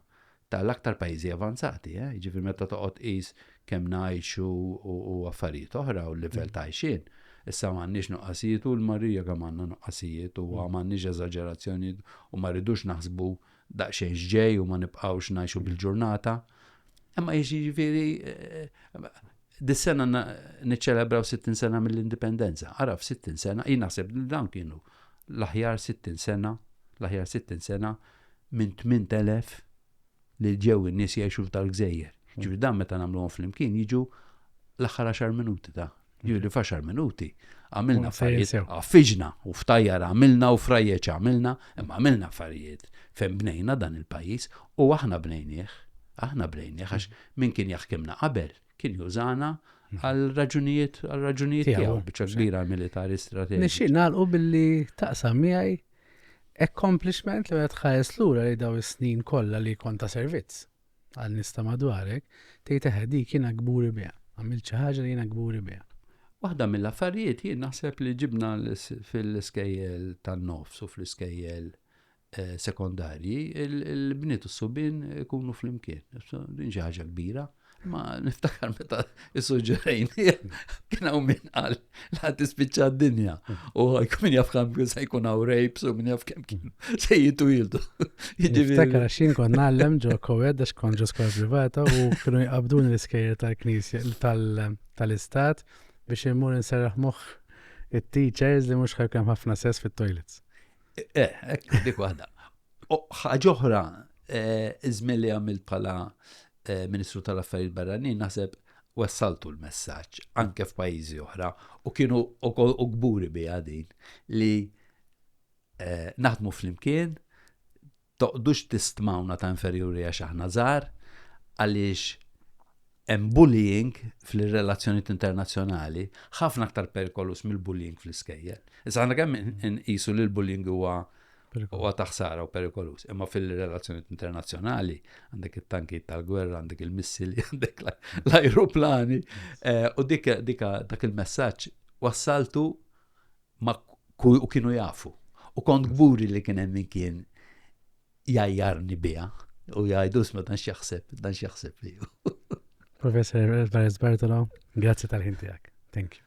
ta' l-aktar pajjiżi avanzati, jiġifieri meta toqgħod tqis kemm ngħixu u affarijiet oħra u l-livell ta' għajxien. Issa m'għandniex nuqqasijiet u l-marija kemm għandna nuqqasijiet u m'għandniex eżaġerazzjonijiet u ma rridux naħsbu daqsxejn x'ġej u ma nibqgħux ngħixu bil-ġurnata. Imma jiġifieri dis-sena niċċelebraw 60 sena mill-indipendenza. Ara f'60 sena, jien naħseb li dawn kienu l-aħjar 60 sena, l-aħjar 60 sena minn 8000 li ġew in-nies jgħixu f'dal-gżejjer. Ġifieri dan meta nagħmluhom flimkien jiġu l-aħħar 10 minuti ta' Ġili faxar minuti, għamilna affarijiet, għaffiġna u ftajjar għamilna u frajjeċ għamilna, imma għamilna affarijiet fejn bnejna dan il-pajis u aħna bnejnieħ, aħna bnejnieħ, għax min kien jaħkimna qabel kien jużana mhm. għal raġunijiet għal raġunijiet tiegħu biċċa kbira militari strateġi. Nixxi nagħlqu billi taqsam miegħi accomplishment li qed ħares lura li daw is-snin kollha li konta servizz. għal nies ta' madwarek, tgħid eħe dik jiena kburi biha, għamilt xi ħaġa li jiena kburi biha. Waħda mill-affarijiet jien naħseb li ġibna fil-iskejjel tan-nofs u fl-iskejjel eh, sekondarji, il-bniet u s-subin ikunu fl-imkien. Din xi ħaġa kbira. Ma niftakar meta is-suġġerejn kien hawn min qal la tispiċċa d-dinja. U għajk minn jaf kam se jkun għaw rejps u minn jaf kem kien se jitu jildu. Niftakar xin kon nallem ġo kowed għax kon ġo skola privata u kienu jqabdun l-iskejjer tal-knisja tal-istat biex immur nserraħ moħ it-teachers li mux ħajkem ħafna sess fit-toilets. Eh, ekk, dik waħda. ħagħuħra, eh, izmilli għamil pala eh, Ministru tal-Affarijiet Barranin naħseb wassaltu l-messaġġ anke f'pajjiżi oħra u kienu u kburi biha din li eh, naħdmu flimkien toqdux tistmawna ta' inferjuri għax aħna żgħar għaliex hemm bullying fil-relazzjonijiet internazzjonali ħafna aktar perikolus mill-bullying fl-iskejjel. Issa għandna kemm inqisu li l-bullying huwa Huwa ta' ħsara u perikoluż. Imma fil-relazzjonijiet internazzjonali għandek it-tanki tal-gwerra, għandek il-missili, għandek l-ajruplani. Eh, u dik dak il-messaġġ wassaltu ma' u kienu jafu. U kont gburi li kien hemm min kien jajjarni biha u jgħidu sma dan x'jaħseb, dan x'jaħseb li. Professor Bartolo, grazzi tal-ħin tiegħek. Thank you.